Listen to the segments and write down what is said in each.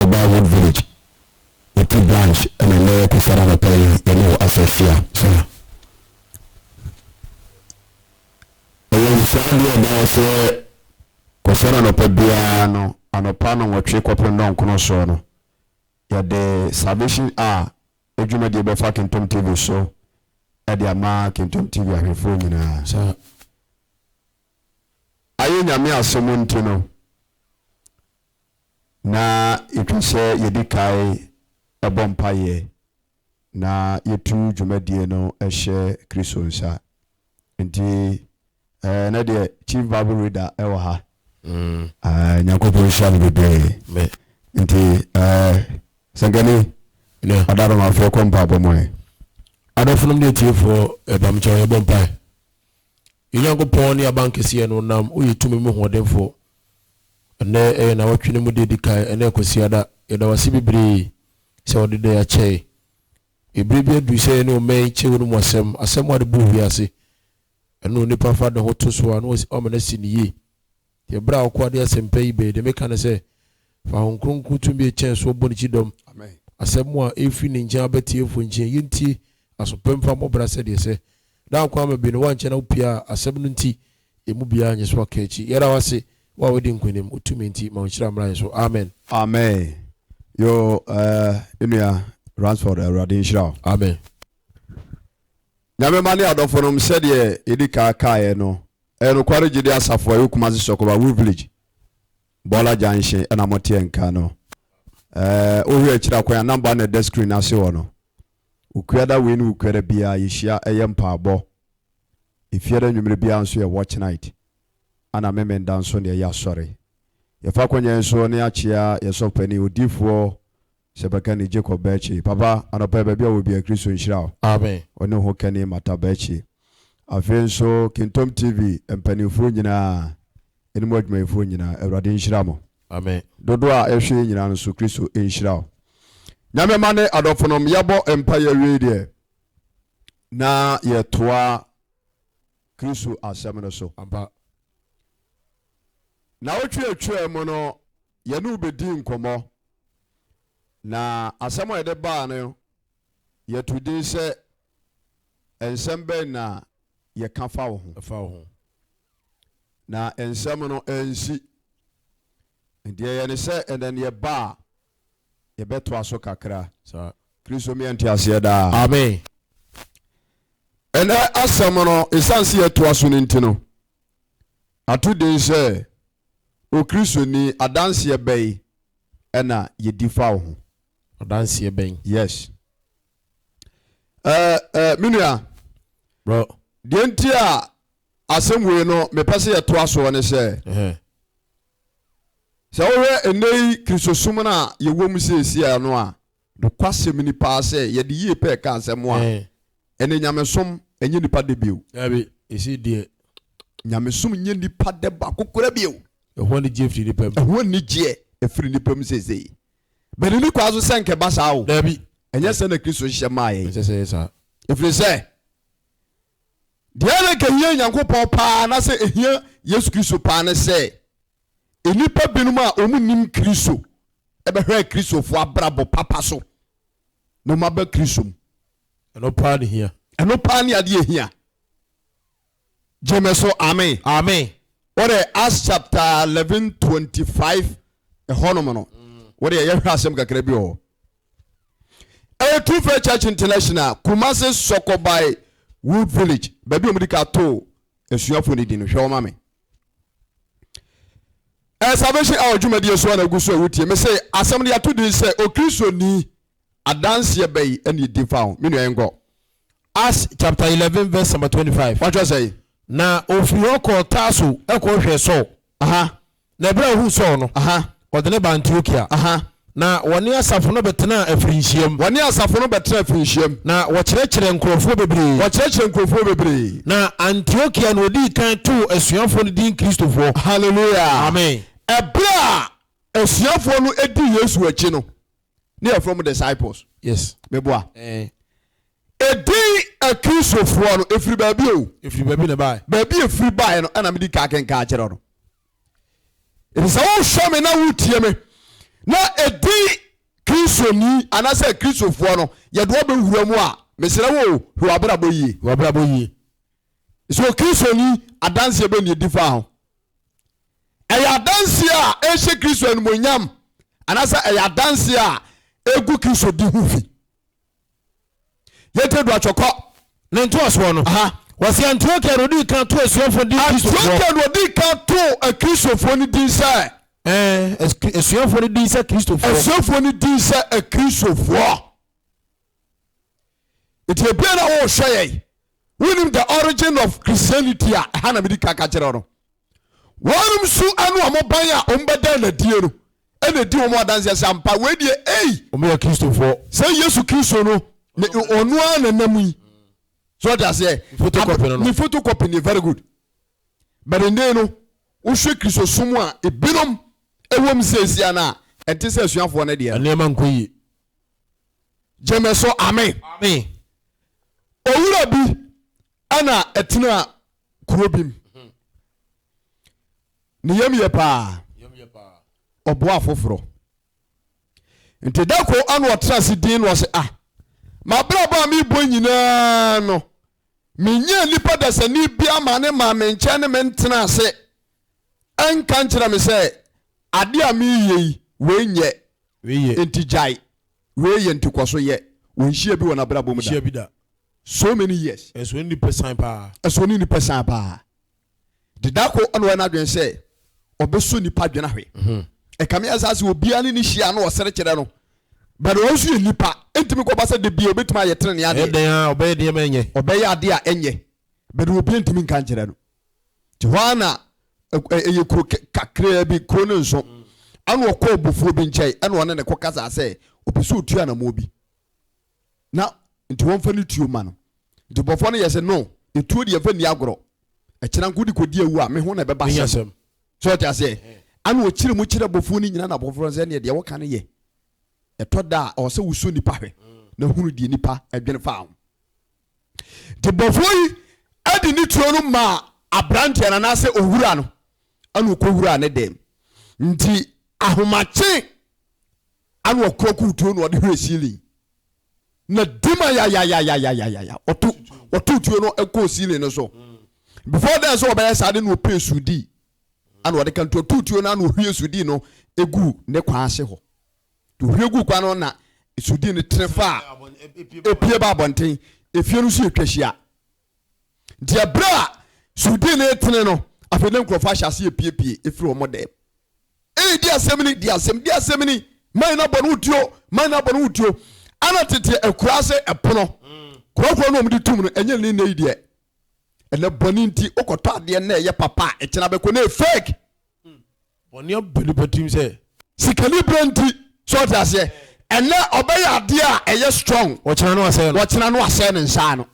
Ɔbaa Wood Village, Yɛte Branch ɛna nnɛ yɛkɔ Fada anɔpa yi yɛne wo afa afia so a Ɛyɛ nsaa deɛ ɛbaa sɛ kɔ Fada anɔpa biara no anɔpa nnɔnwɔtwe kɔpem nnɔnkono soɔ no yɛde Salvation Hour adwumadie bɛfa Kintom TV so ɛde ama Kintom TV ahwɛfoɔ nyinaa. ayɛ Nyame asom nti no, na yɛtwa sɛ yɛdi kae bɔ mpaeɛ na yɛtu dwumadie no hyɛ Kristo nsa. Nti ɛnɛ deɛ Chief Bible Reader wɔ ha. Mm. Uh, Nyankopɔn nhyira no bebree. Nti uh, sɛnkani yeah. ɔdaromafoɔ kɔ mpaabɔ mɔɛ. Adɔfonom ne atiefoɔ ɛbamkyɛw yɛbɔ mpae. Yɛn Nyankopɔn ne Abankɛseɛ no nam Ɔyɛ tumi mu hoɔdenfoɔ. Ɛnnɛ yɛ nawɔtwe no mu da edi kan, ɛnnɛ yɛ Kwasiada. Yɛda Wo ase bebree sɛ Wode da yi akyɛ yɛn. Ɛberɛ bi aduru sɛ yɛne Ɔmmɛn nkyɛ Wo no mu asɛm, asɛm a ɛde bu owiase, ɛno na onipa fa ne ho to so a na wama no asi no yie. Deɛ berɛ a w'akoa de asɛm pa yi bae, deɛ meka ne sɛ, fa Honhom Kronkron tumi a ɛkyɛn soɔ bɔ ne kyidɔm. Asɛm a ɛrefiri ne nkyɛn aba atiefoɔ nkyɛn yi ntie aso pa mfa mmɔ bra sɛdeɛ ɛsɛ. Daa nkwa ama bi no, woankyɛ na wopiaa asɛm no nti, yɛn mu biara nnye so aka akyi. Yɛda wo ase, wo a woadi nkonim, wo tumi nti, ma wo nhyira mmra yɛn so. Amen. Amen. Yoo eh, nua Ransford Awurade nhyira wo. Amen. Nyame mma ne adɔfonom sɛdeɛ yɛdi kaa kaeɛ no, Ɛyɛ nokware gyidi asafo a ɛwɔ Kumasi Sɔkɔba Wu Village, Bɔɔla Junction na moteɛ nka no. Ɛɛ, wohwɛ akyiri a, kwan a namba na ɛda screen no ase hɔ no. Wukuada wei ne wukuada biara yɛhyia ɛyɛ mpaabɔ. Efiada nwummere biara nso yɛ watch night. Ana Memenda nso ne ɛyɛ asɔre. Yɛfa akwannya yi so ne akyea yɛn sɔfopanyin, odiyifoɔ Sɛ bɛka ni Jacob Bɛɛkye. Papa anɔpa yi baabi a ɔwɔ biaa Kristo nhyira wo. Amen. Ɔne ho kɛne Mata Bɛɛkye. Afei nso Kintom TV mpaninfoɔ nyinaa ɛne mo adwumayɛfoɔ nyinaa Awurade nhyira mo. Amen. Dodoɔ a ɛhwɛ yɛn nyinaa no nso Kristo nhyira wo. Nyame mma ne adɔfonom yɛbɔ mpaeɛ awiei deɛ na yɛtoa Kristo asɛm no so. Ampa. Naawɔtwe atwaa mu no Yɛne wo bɛdii nkɔmmɔ, na asɛm a yɛde baa no, yɛtoo din sɛ, Nsɛm Bɛn na Yɛka Fa Wo Ho? Fa Wo Ho. Na nsɛm no ansi. Enti yɛyɛ no sɛ ɛnnɛ no yɛba a, yɛbɛtoa so kakra. Saa. Kristo mmea nteaseɛ daa. Amen. Ɛnnɛ asɛm no, ɛsiane sɛ yɛtoa so no nti no, Ato din sɛ Okristoni adanseɛ bɛn na yɛdi fa wo ho? Adanseɛ bɛn? Yes. Eh, eh, me nua. Bro. Deɛ nti a asɛm wei no mepɛ sɛ yɛtoa soɔ ne sɛ, sɛ wohwɛ ɛnnɛ yi Kristosom no a yɛwɔ mu seesia no a, Nokwasɛm ni paa sɛ, yɛde yie pɛɛ ka asɛm a, ɛnneɛ nyamesom nyɛ nnipa dɛ bio. Dabi, ɛsei deɛ. Nyamesom nyɛ nnipa dɛ baako koraa bio. Ɛho anigyeɛ firi nnipa mu. Ɛho anigyeɛ firi nnipa mu seesei. Bɛ nni kwan so sɛ anka ɛba saa o. Dabi. Ɛnyɛ sɛ na Kristo hyehyɛ maaeɛ. Ɛnsɛ sɛ ɛyɛ saa. Ɛfiri sɛ. Deɛ na ɛka hia Nyankopɔn paa na sɛ ɛhia Yesu Kristo paa ne sɛ nnipa binom a wɔn nnim Kristo ɛbɛhwɛ Kristofoɔ abrabɔ papa so na wɔn aba Kristo mu. Ɛno paa ne hia. Ɛno paa ne adeɛ hia. Gyeme so amen. Amen. Wɔde Acts chapter eleven twenty five ɛhɔnom no wɔde yɛhwɛ asɛm kakra bi wɔ hɔ. ɛyɛ true faith church international kumase sɔkɔbae wood village baabi a wɔde ka too asuafoɔ no di no hwɛ wɔma me ɛyɛ salvation hour dwumadie so a na agu so a wotie me sɛ asɛm no yɛato din sɛ okristoni adanseɛ bɛyi ɛne ɛdi fa ho me nua yɛnkɔ Acts chapter eleven verse number twenty-five. wɔatwerɛ sɛ na ofiri hɔ kɔɔ Tarso kɔhwɛɛ Saul aha Na ɛberɛ a ɔhuu Saul no, ɔde no baa Antiokia. Na wɔne asafo no bɛtenaa afirinhyiam. Wɔne asafo no bɛtenaa afirinhyiam. Na wɔkyerɛkyerɛɛ nkurɔfoɔ bebree. Wɔkyerɛkyerɛɛ nkurɔfoɔ bebree. Na Antiokia na ɔdii kan too asuafoɔ no din Kristofoɔ. Hallelujah! Amen. Ɛberɛ a asuafoɔ no dii Yesu akyi no, ne yɛfrɛ mo disciples yes meboa eh. ɛdin akristofoɔ no ɛfiri baabi o ɛfiri baabi na ɛbaɛ baabi ɛfiri baɛ no ɛna mede ka kenka akyerɛ no ɛfiri sɛ wohwɛ me na wotie me na ɛdin kristoni anaasɛ akristofoɔ no yɛde wɔbɛwura mu a mesrɛ wo o hwɛ wabrabɔ yie wabrabɔ yie sɛ ɔkristoni adanseɛ bɛ ne ɛdi fa ho ɛyɛ adanseɛ a ɛhyɛ kristo animonyam anaasɛ ɛyɛ adanseɛ a ɛgu kristo di ho fi yɛtɛ du atwɔkɔ ne ntoasoɔ no wɔsi antiokia na odi kan to asuafoɔ di kristofoɔ antiokia na odi kan to akristofoɔ no din sɛ ɛɛ asuafoɔ no din sɛ kristofoɔ asuafoɔ no din sɛ akristofoɔ eti ebien na wɔrehwɛ yɛn wonim the origin of christianity a ɛha na mede ka ka kyerɛ no wɔnom so ɛne wɔn ban a wɔn bɛdan na die no ɛna ɛdi wɔn adanseɛ sɛ ampa wei deɛ ei wɔn yɛ kristofoɔ sɛ yesu kristo no ne ɔno ara na nam yi so ɔde aseɛ photocopy no no ne photocopy ne very good but ɛnde no wohwɛ kristosom a ebinom ɛwɔ mu sɛ ɛsia no a ɛnte sɛ asuafoɔ no deɛ nneɛma nkɔ yie gyeme so amen amen owura bi ɛna ɛtena kuro bi mu mhm. ne yam yɛ paa ɔboa afoforɔ nti da ko ana ɔtena ase din no ɔse ah mabrabɔ a mebɔ nyinaa no menyɛ nnipa dasani bi ama ne maa me nkyɛn ne me ntena ase ɛnka nkyerɛ me sɛ ade a meyɛ yi wɔnyɛ nti gyae Wei yɛ ntikwaso yɛ. Wɔ nhyia bi wɔ n'abrabɔ mu da. Nhyia bi da. So many years. Ɛso ne nipɛ san paa. Ɛso ne nipɛ san paa. De da ko ɛna ɔyɛ n'adwene sɛ ɔbɛsɔ nipa adwene ahwɛ. Ɛkame asa sɛ obiara ne ne hyia na ɔsere kyerɛ no. But ɔno nso yɛ nipa. Ɛntumi kɔ ba sɛ da bia ɔbɛtumi ayɛ tenenee adeɛ. Ɛyɛ dɛn ara ɔbɛyɛ deɛ ma ɛnyɛ. Ɔbɛyɛ adeɛ a ɛnyɛ. But obiara ntumi nka nkyerɛ no. Te hɔ ara na ɛyɛ kuro kakraa bi, kuro no nso. Ɛna ɔkɔ ɔbofoɔ bi nkyɛn, ɛna ɔne ne kɔ kasa sɛ ɔpɛ sɛ ɔtua anamoɔ bi na nti wɔmfa ne tuo ma no. Nti bɔfoɔ no yɛ sɛ no, ɛtuo deɛ fa nni agorɔ. Ɛkyena nko de kɔdi awu a, me ho na ɛbɛba hyɛm. Sɛ ɔte aseɛ? Ɛna ɔkyerɛ mu kyerɛ bɔfoɔ no nyina na bɔfoɔ no sɛ neɛ deɛ woka no yɛ. Ɛtɔ da a, ɔwɔ sɛ wosɔ nipa hwɛ na hunu deɛ nipa adwene fa ho. nti bɔfoɔ yi de ne tuo no maa aberanteɛ no anaasɛ owura no ɛna ɔkɔwuraa ne dɛm nti ahomakye ana ɔkorakoo tuo no ɔde hwɛ ceiling na dima yayayayayayaya ɔto ɔto tuo no ɛkɔɔ ceiling no so before then sɛ ɔbɛyɛ saa de na ɔpɛ sudi ana ɔde ka nti ɔto tuo no ana ɔhwie sudi no ɛgu ne kwan ase hɔ Ohwie guu gua no na sudi no tene fa a epue ba abɔnten. Efie no nso yɛ twahyia. Deɛ berɛ a sudi no retene no, afei na nkurɔfoɔ ahyɛ ase epiepie efiri wɔn dan mu. Ee, di asɛm ni, di asɛm, di asɛm ni, man na bɔ no wutuo, man na bɔ no wutuo. Ana tete akuraa se ɛpono, kurɔfoɔ na wɔn de tum no, ɛnyɛ ne nne yi deɛ. Ɛnɛ bɔne nti, wokɔtɔ adeɛ na ɛyɛ papa a, ɛkyena bɛkɔ na ɛyɛ fake. Bɔne abu nnipa tirim sɛ. Sikaniberɛ nti, so ɔte aseɛ? Ɛnɛ ɔbɛyɛ adeɛ a ɛyɛ strong. Ɔkyena no asɛe no. Ɔkyena no asɛe no nsa ano.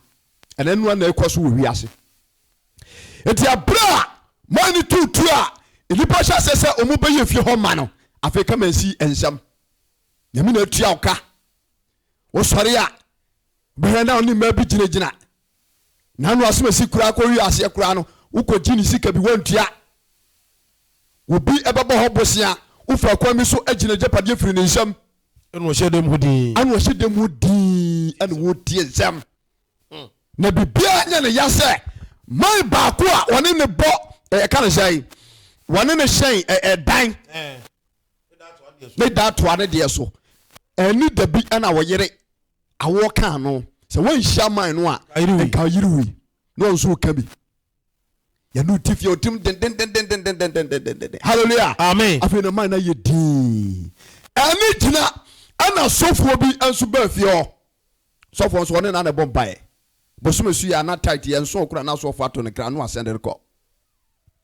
Ɛnɛ noa na ɛkɔ so wɔ wiase. Eti abere a man no tu tu a nnipa hyɛ aseɛ sɛ wɔn bɛyɛ fie hɔ ma no, afei kama nsi nsɛm. Nyame na atua ɔka. Wosɔre a, bɛhwɛ na ɔne mmaa bi gyinagyina Nano asomasi koraa kɔhwi aseɛ koraa no wokɔgye ne sika bi wantua obi bɛbɔ hɔ bosea wofa akwan bi so agyina agyapadeɛ firi ne nsam ɛna ɔhyɛ dɛm ho din ɛna ɔhyɛ dɛm ho din ɛna wɔtie nsɛm hmm. na biribiara nyɛ ne ya sɛ man baako a wɔne ne bɔ ɛka ne sɛe wɔne ne hyɛn ɛdan ne da toa ne deɛ so ɛne da bi ɛna wɔyere awoɔ kaa no sɛ wɔnhyia man no a nka yere wei na ɔnso woka bi yɛne ɔti fie ɔtim dendendende halleluya amen afei na man no ayɛ din ɛne gyina ɛna sɔfoɔ bi nso baa fie hɔ sɔfoɔ nso ɔne na na ɛbɔ mpaeɛ bosome so yɛ ana tight yɛ nso ɔkora na asɔfoɔ ato ne kra no asɛn de rekɔ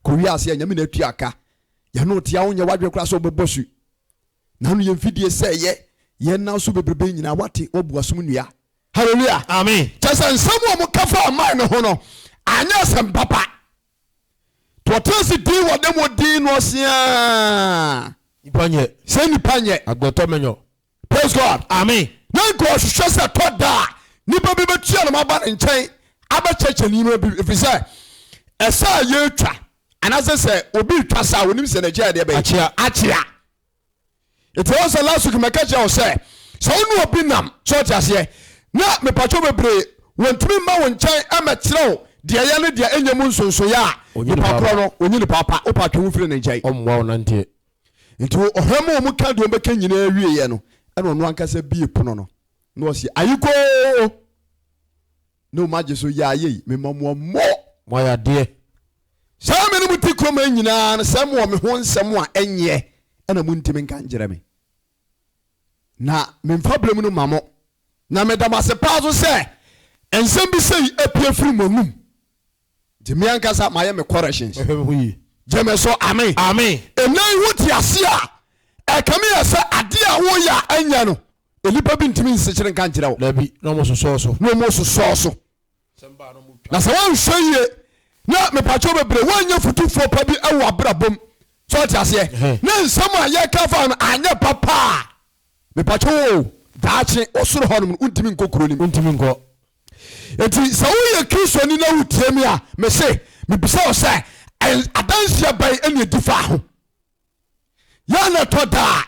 Kɔ wiase a Nyame na atua ka. Yɛne wo te a wonyɛ w'adwene koraa sɛ wobɛbɔ su. N'ano yɛ mfidie sɛ ɛyɛ yɛn nan so bebrebe nyinaa wate wabu asom nnua. Hallelujah! Amen! Kyerɛ sɛ nsɛm a wɔka faa Mae no ho no anyɛ asɛm papa. To ɔtena ase dinn wɔ dɛm odin no ase aa. Nipa nyɛ. Sɛ nipa nyɛ. Agbɔtɔ mɛnyɔ. Praise God. Amen. Na nka ɔhwehwɛ sɛ tɔ da a nipa bi bɛtua no aba ne nkyɛn abɛkyɛkyɛ nneɛma bi ɛfiri sɛ ɛsɛ a yɛtwa anaasɛ sɛ obi retwa saa a onim sɛ n'akyi a yɛde bɛyɛ akyea akyea nti wɔn sɛ last week mɛka kyerɛ wo sɛ sɛ wo ne obi nam sɛ ɔte aseɛ na mepatwo bebree wɔntumi mma wo nkyɛn ɛmɛkyerɛ wo deɛ ɛyɛ ne deɛ ɛnyɛ mu nsonsoyɛ a Onyi nipa nipa korɔ no ɔnyi nipa pa wopatwe wo firi ne nkyɛn ɔmmoa wo nanteɛ Nti wɔ ɔhwɛ ma wɔn ka deɛ wɔn bɛka nyinaa wieɛ no, ɛna ɔno ankasa bie pono no, na ɔse, Ayekoo! Na wɔn agye so, Yaa yei, mema mo amo! Moayɛ adeɛ! Saa me ne mo te kurom ha nyinaa no, sɛ mowɔ me ho nsɛm a ɛnyeɛ na montimi nka nkyerɛ me, na memfa berɛ mu no ma mo. Na meda mo ase paa nso sɛ nsɛm bi sei apue afiri mo anom. Nti me ankasa mayɛ me corrections. Mɛhwɛ me ho yie. Gyeme so amen. Amen. Ɛnɛ yi wo te ase a ɛkame yɛ sɛ adeɛ a wo yɛ a ɛnyɛ no nnipa bi ntumi nsekyere nka nkyerɛ wo. Dabi na ɔmo sosɔɔ so. Na ɔmo sosɔɔ so. Na sɛ wɔnhwɛ yie na mepakyɛw bebree wɔnyɛ futufoɔ pa bi ɛwɔ abrabɔ mu sɛ ɔte aseɛ ne nsɛm a yɛka fa no anyɛ papa a mepakyɛw o daakye ɔsoro hɔ nom no wontumi nkɔ kuro no mu. Wontumi nkɔ. Enti sɛ woyɛ Kristoni na wutie me a, mise, mibisa wo sɛ, adanseɛ bɛn na ɛdi faa ho? Yɛa na ɛtɔ da a,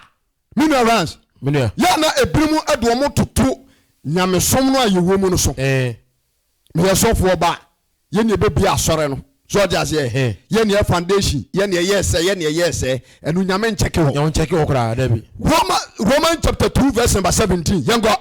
me nua Rance, yɛa na ebinom de wɔn toto nyamesom no a yɛwɔ mu no so. Meyɛ sɔfoɔ ba, yɛn na yɛbɛbie asɔre no. So ɔde aseɛ, yɛn na yɛ foundation, yɛn na yɛyɛɛ sɛ, yɛn na yɛyɛɛ sɛ, ɛno Nyame nkyɛke hɔ. Roman chapter two verse number seventeen, yɛnkɔ.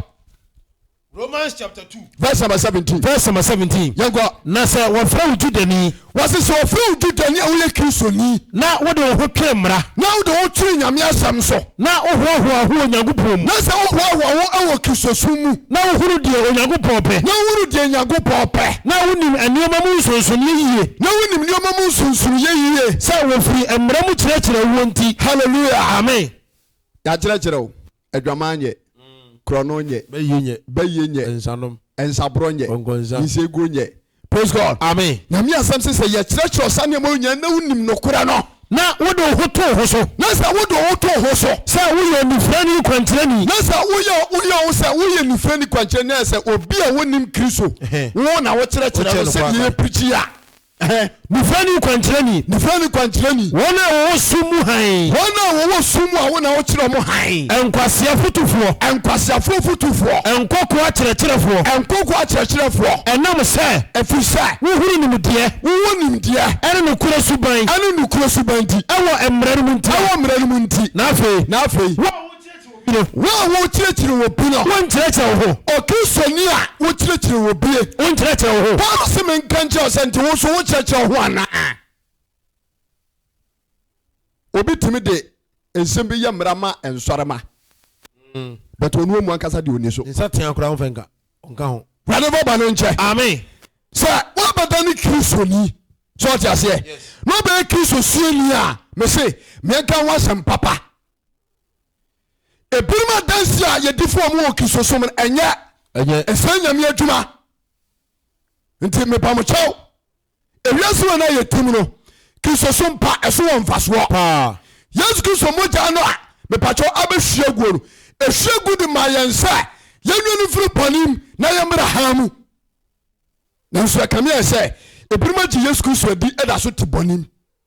Romans chapter two. Verse number seventeen. Verse number seventeen. Yɛn kɔ. Na sɛ wɔfrɛ wo Judani. Wɔsi sɛ wɔfrɛ wo Judani a woyɛ Kristoni. Na wode wo ho twere mmara. Na wode wo ho twere Nyame asɛm so. Na wohoahoa ho wɔ Nyankopɔn mu. Na sɛ wohoahoa ho wɔ Kristosom mu. Na wohunu deɛ Onyankopɔn pɛ. Na wohunu deɛ Nyankopɔn pɛ. Na wonim nneɛma mu nsonsonoeɛ yie. Na wonim nneɛma mu nsonsonoeɛ yie. Sɛ wɔfiri mmara mu kyerɛkyerɛ woɔ nti. Hallelujah. Amen. Yɛakyerɛkyerɛ wo. Adwaman nyɛ. Korɔno nyɛ. Bɛyie nyɛ. Bɛyie nyɛ. Nsanom. Nsaborɔ nyɛ. Kɔnkɔnsa. Nsaguo nyɛ. Praise God. Amen. Nyame asɛm se, sɛ yɛkyerɛkyerɛ wo saa nneɛma yi nyinaa na wonim nokorɛ no. Na wode wo ho to wo ho so. Na sɛ wode wo ho to wo ho so. Sɛ woyɛ onifirani kwankyerɛni. Na sɛ woyɛ woyɛ wo sɛ woyɛ onifirani kwankyerɛni ayɛ sɛ obi a ɔnnim Kristo, wo na wokyerɛkyerɛ no sɛdeɛ yɛpirikyi a. Ɛhɛ, Nifra ni kwankyerɛni. Nifra ni kwankyerɛni. Wɔn a wɔwɔ sum mu hann. Wɔn a wɔwɔ sum mu a Wo na Wokyerɛ wɔn hann. Nkwasea fotufoɔ. Nkwaseafoɔ fotufoɔ. Nkokoa kyerɛkyerɛfoɔ. Nkokoa kyerɛkyerɛfoɔ. Ɛnam sɛ. Ɛfiri sɛ. Wohunu nimdeɛ. Wowɔ nimdeɛ. Ɛne nokorɛ suban. Ɛne nokorɛ suban nti. Ɛwɔ mmara no mu nti. Ɛwɔ mmara no mu nti. Na afei. Na afei. Wo a wokyerɛkyerɛ. no. Wo a worekyerɛkyerɛ obi no. Wonkyerɛkyerɛ wo ho. Okristoni a wokyerɛkyerɛ obi no. Wonkyerɛkyerɛ wo ho. Paul se menka nkyerɛ wo sɛ nti wo nso wokyerɛkyerɛ wo ho anaa? Obi tumi de nsɛm bi yɛ mmara ma nsɔrema. Mm. But onu omu ankasa de oni so. Nsa tea koraa ɔmfa nka. Ɔnka ho. Wurade fa bɔne nkyɛ. Amen. Sɛ woabɛda ne Kristoni sɛ ɔte aseɛ na ɔbɛyɛ Kristo suani a mese meɛka ho asɛm papa. Ebinom adansi a yɛdi fo wɔn wɔ Kristosom no, ɛnyɛ ɛsɛe Nyame adwuma. Nti mepa mo kyɛw, ewiase wɔ no a yɛte mu no, Kristosom pa, ɛso wɔ mfasoɔ. Yesu Kristo mogya no a mepa kyɛw abɛhwie aguo no, ɛhwie gu de ma yɛn sɛ yɛnwe no mfiri bɔnem na yɛmmra hann mu. Nanso ɛkame ayɛ sɛ ebinom agye Yesu Kristo adi da so te bɔnem.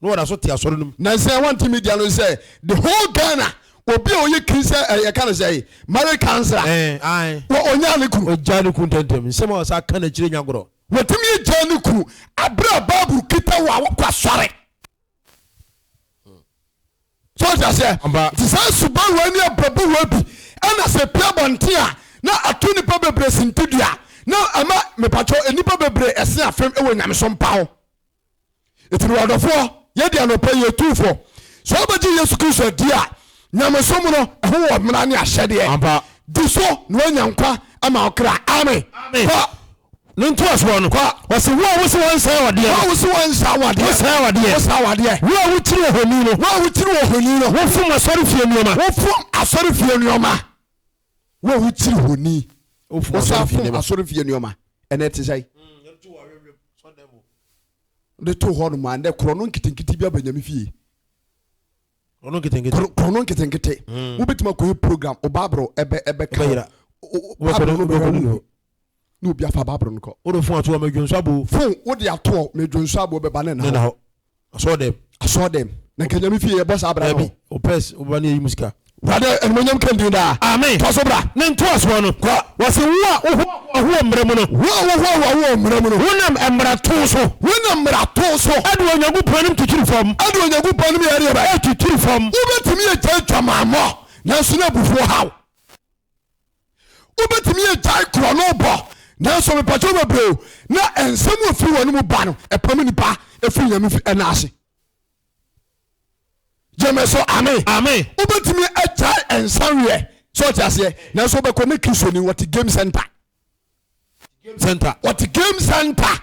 na wɔda so te asɔre no mu. Na sɛ wɔnte media no sɛ the whole Ghana obi a ɔyɛ kiri sɛ ɛyɛ ka no sɛ marriage counsellor wɔ ɔnyaa ne kunu. Ɔgyaa ne kunu ntɛntɛm nsɛm a ɔsa ka no akyire nya gorɔ. Wɔtumi agyaa ne kunu abere a Bible kita wɔ a wɔkɔ asɔre. So ɔte aseɛ nti saa suban wɔ ne abrabɔ wɔ bi ɛna sɛ pia bɔnten a na ato nipa bebree sintidua na ɛma mepatwɔ nipa bebree ɛse afem ɛwɔ nyamesom pa ho. ɛti no wadɔfoɔ yɛde anɔpa yi ɛtu fɔ sɛ wobɛgye yesu kristo adi a nyamesom no ɛho wɔ mmara ne ahyɛdeɛ Ampa. di so na woanya nkwa ama ɔkra amen kɔ ne ntoasoɔ no Kwa. ɔse wo a wose wɔnsɛe wadeɛ wo a no wo se wɔnsa wadeɛ wosɛe wadeɛ wosa wadeɛ wo a wokyiri ohoni no wo a wokyiri ohoni no wofom asɔrefie nneɛma wofom asɔrefie nneɛma Wo a wokyi honi, wosan fom asɔrefie nneɛma, ɛnna ɛte sɛn? Wode too hɔ nom a, ɛnna korɔno nketenkete bi aba Nyame fie. Korɔno nketenkete. Korɔno nketenkete. Hmm. Wobɛtumi akɔyɛ program, o Bible ɛbɛ ɛbɛ ka hɔ. Bible no bɛka hɔ na obi afa Bible no kɔ. Wode fon ato hɔ, medwonso abo. Fon wode ato hɔ, medwonso abo bɛba ne na hɔ. asɔɔ dɛm asɔɔ dɛm na nka nyame fie yɛbɔ saa bra no opɛs woba ne yɛyi mu sika wurade animonyam kɛndin daa amen tɔ so bra ne ntoasoɔ no kɔ wɔse wo a wohoahoa mmara mu no wo a wohoahoa wowɔ mmara mu no wonam mmarato so wonam mmarato so ɛde onyankopɔn anim titiri fam ɛde onyankopɔn anim yɛdeɛ bɛ ɛtitiri fam wobɛtumi agya adwamammɔ nanso na abufuo haw wobɛtumi agyae korɔno bɔ nanso mepɛkyɛw bebree o na nsɛm a firi wɔn mu ba no ɛpam nipa ɛfiri nyame fi ɛna ase gyeme so ame ame wobɛtumi agyae nsaweɛ sɛ ɔte aseɛ nanso wobɛkɔ ne kristoni wɔte game center center wɔte game center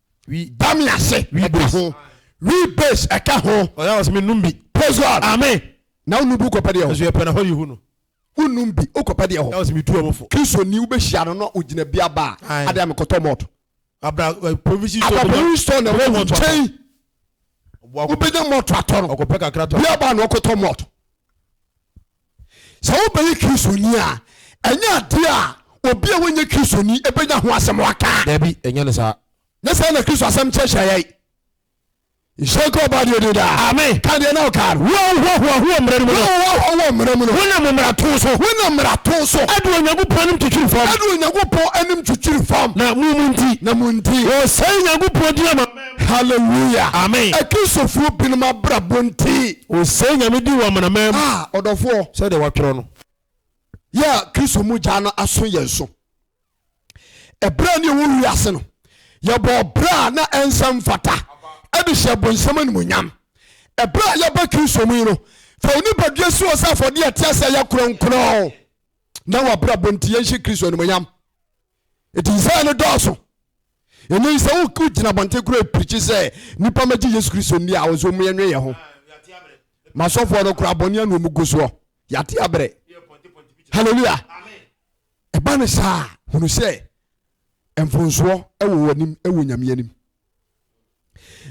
Dame ase ɛka ho. Wi base ɛka ho. Ɔyɛ awɔ sɛ me num bi. Praise God. Amen. Na wo num bi wokɔpɛ deɛ hɔ. Nso yɛpɛ na hɔ yi hu no. Wo num bi wokɔpɛ deɛ hɔ. Ɛwɔ sɛ me tu ɔmo fo. Kristo ni wobɛhyia no na ogyina bi aba a adeɛ a mekɔtɔ malt. Abra eh, provision store. Abra provision store na ɛwɔ nkyɛn. Wobɛnya malt atɔ no. Ɔkɔpɛ kakra tɔ. Bi aba na ɔkɔtɔ malt. Sɛ wobɛyɛ Kristoni a, ɛnyɛ adeɛ a obi a wanyɛ Kristoni bɛnya ho asɛm aka. Dabi, ɛnyɛ no saa. Nyɛ saa na Kristo asɛm kyerɛkyerɛ yɛn. Nhyira nka ɔba deɛ din daa. Amen. Ka deɛ na wokaa no. Wo a wohoahoa ho wɔ mmara no mu no. Wo a wohoahoa ho wɔ mmara mu no. Wonam mmarato so. Wonam mmarato so. Adu Onyankopɔn anim kyekyere fam. Adu Onyankopɔn anim kyekyere fam. Na mo mu nti. Na mo nti. Wɔsɛe Nyankopɔn din ama. Hallelujah! Amen! Akristofoɔ binom abrabɔ nti. Wɔsɛe Nyame din wɔ amanaman mu. Ah, ɔdɔfoɔ! Sɛdeɛ wɔatwerɛ no. Yɛ a Kristo mu gya no aso yɛn so. Ɛberɛ a ne yɛwɔ wiase no, yɛbɔɔ bra a na ɛnsɛ mfata de hyɛɛ bonsam animuonyam. Ɛberɛ a yɛba Kristo mu yi no, fa wo nipadua si hɔ sɛ afɔdeɛ a ɛte ase a ɛyɛ kronkron na w'abrabɔ nti yɛnhyɛ Kristo animuonyam. Enti Yesaia no dɔɔso. Ɛnnɛ yi sɛ wogyina abɔnten koraa repirikyi sɛ nnipa mmɛgye Yesu Kristo nni a, wɔsɛ wɔn yɛnwe yɛn ho. Masɔfoɔ no koraa bɔne ano wɔn gu soɔ. Yɛate abrɛ. Hallelujah. Ɛba ne saa hunu sɛ mfonsoɔ wɔ wɔn anim wɔ Nyame anim.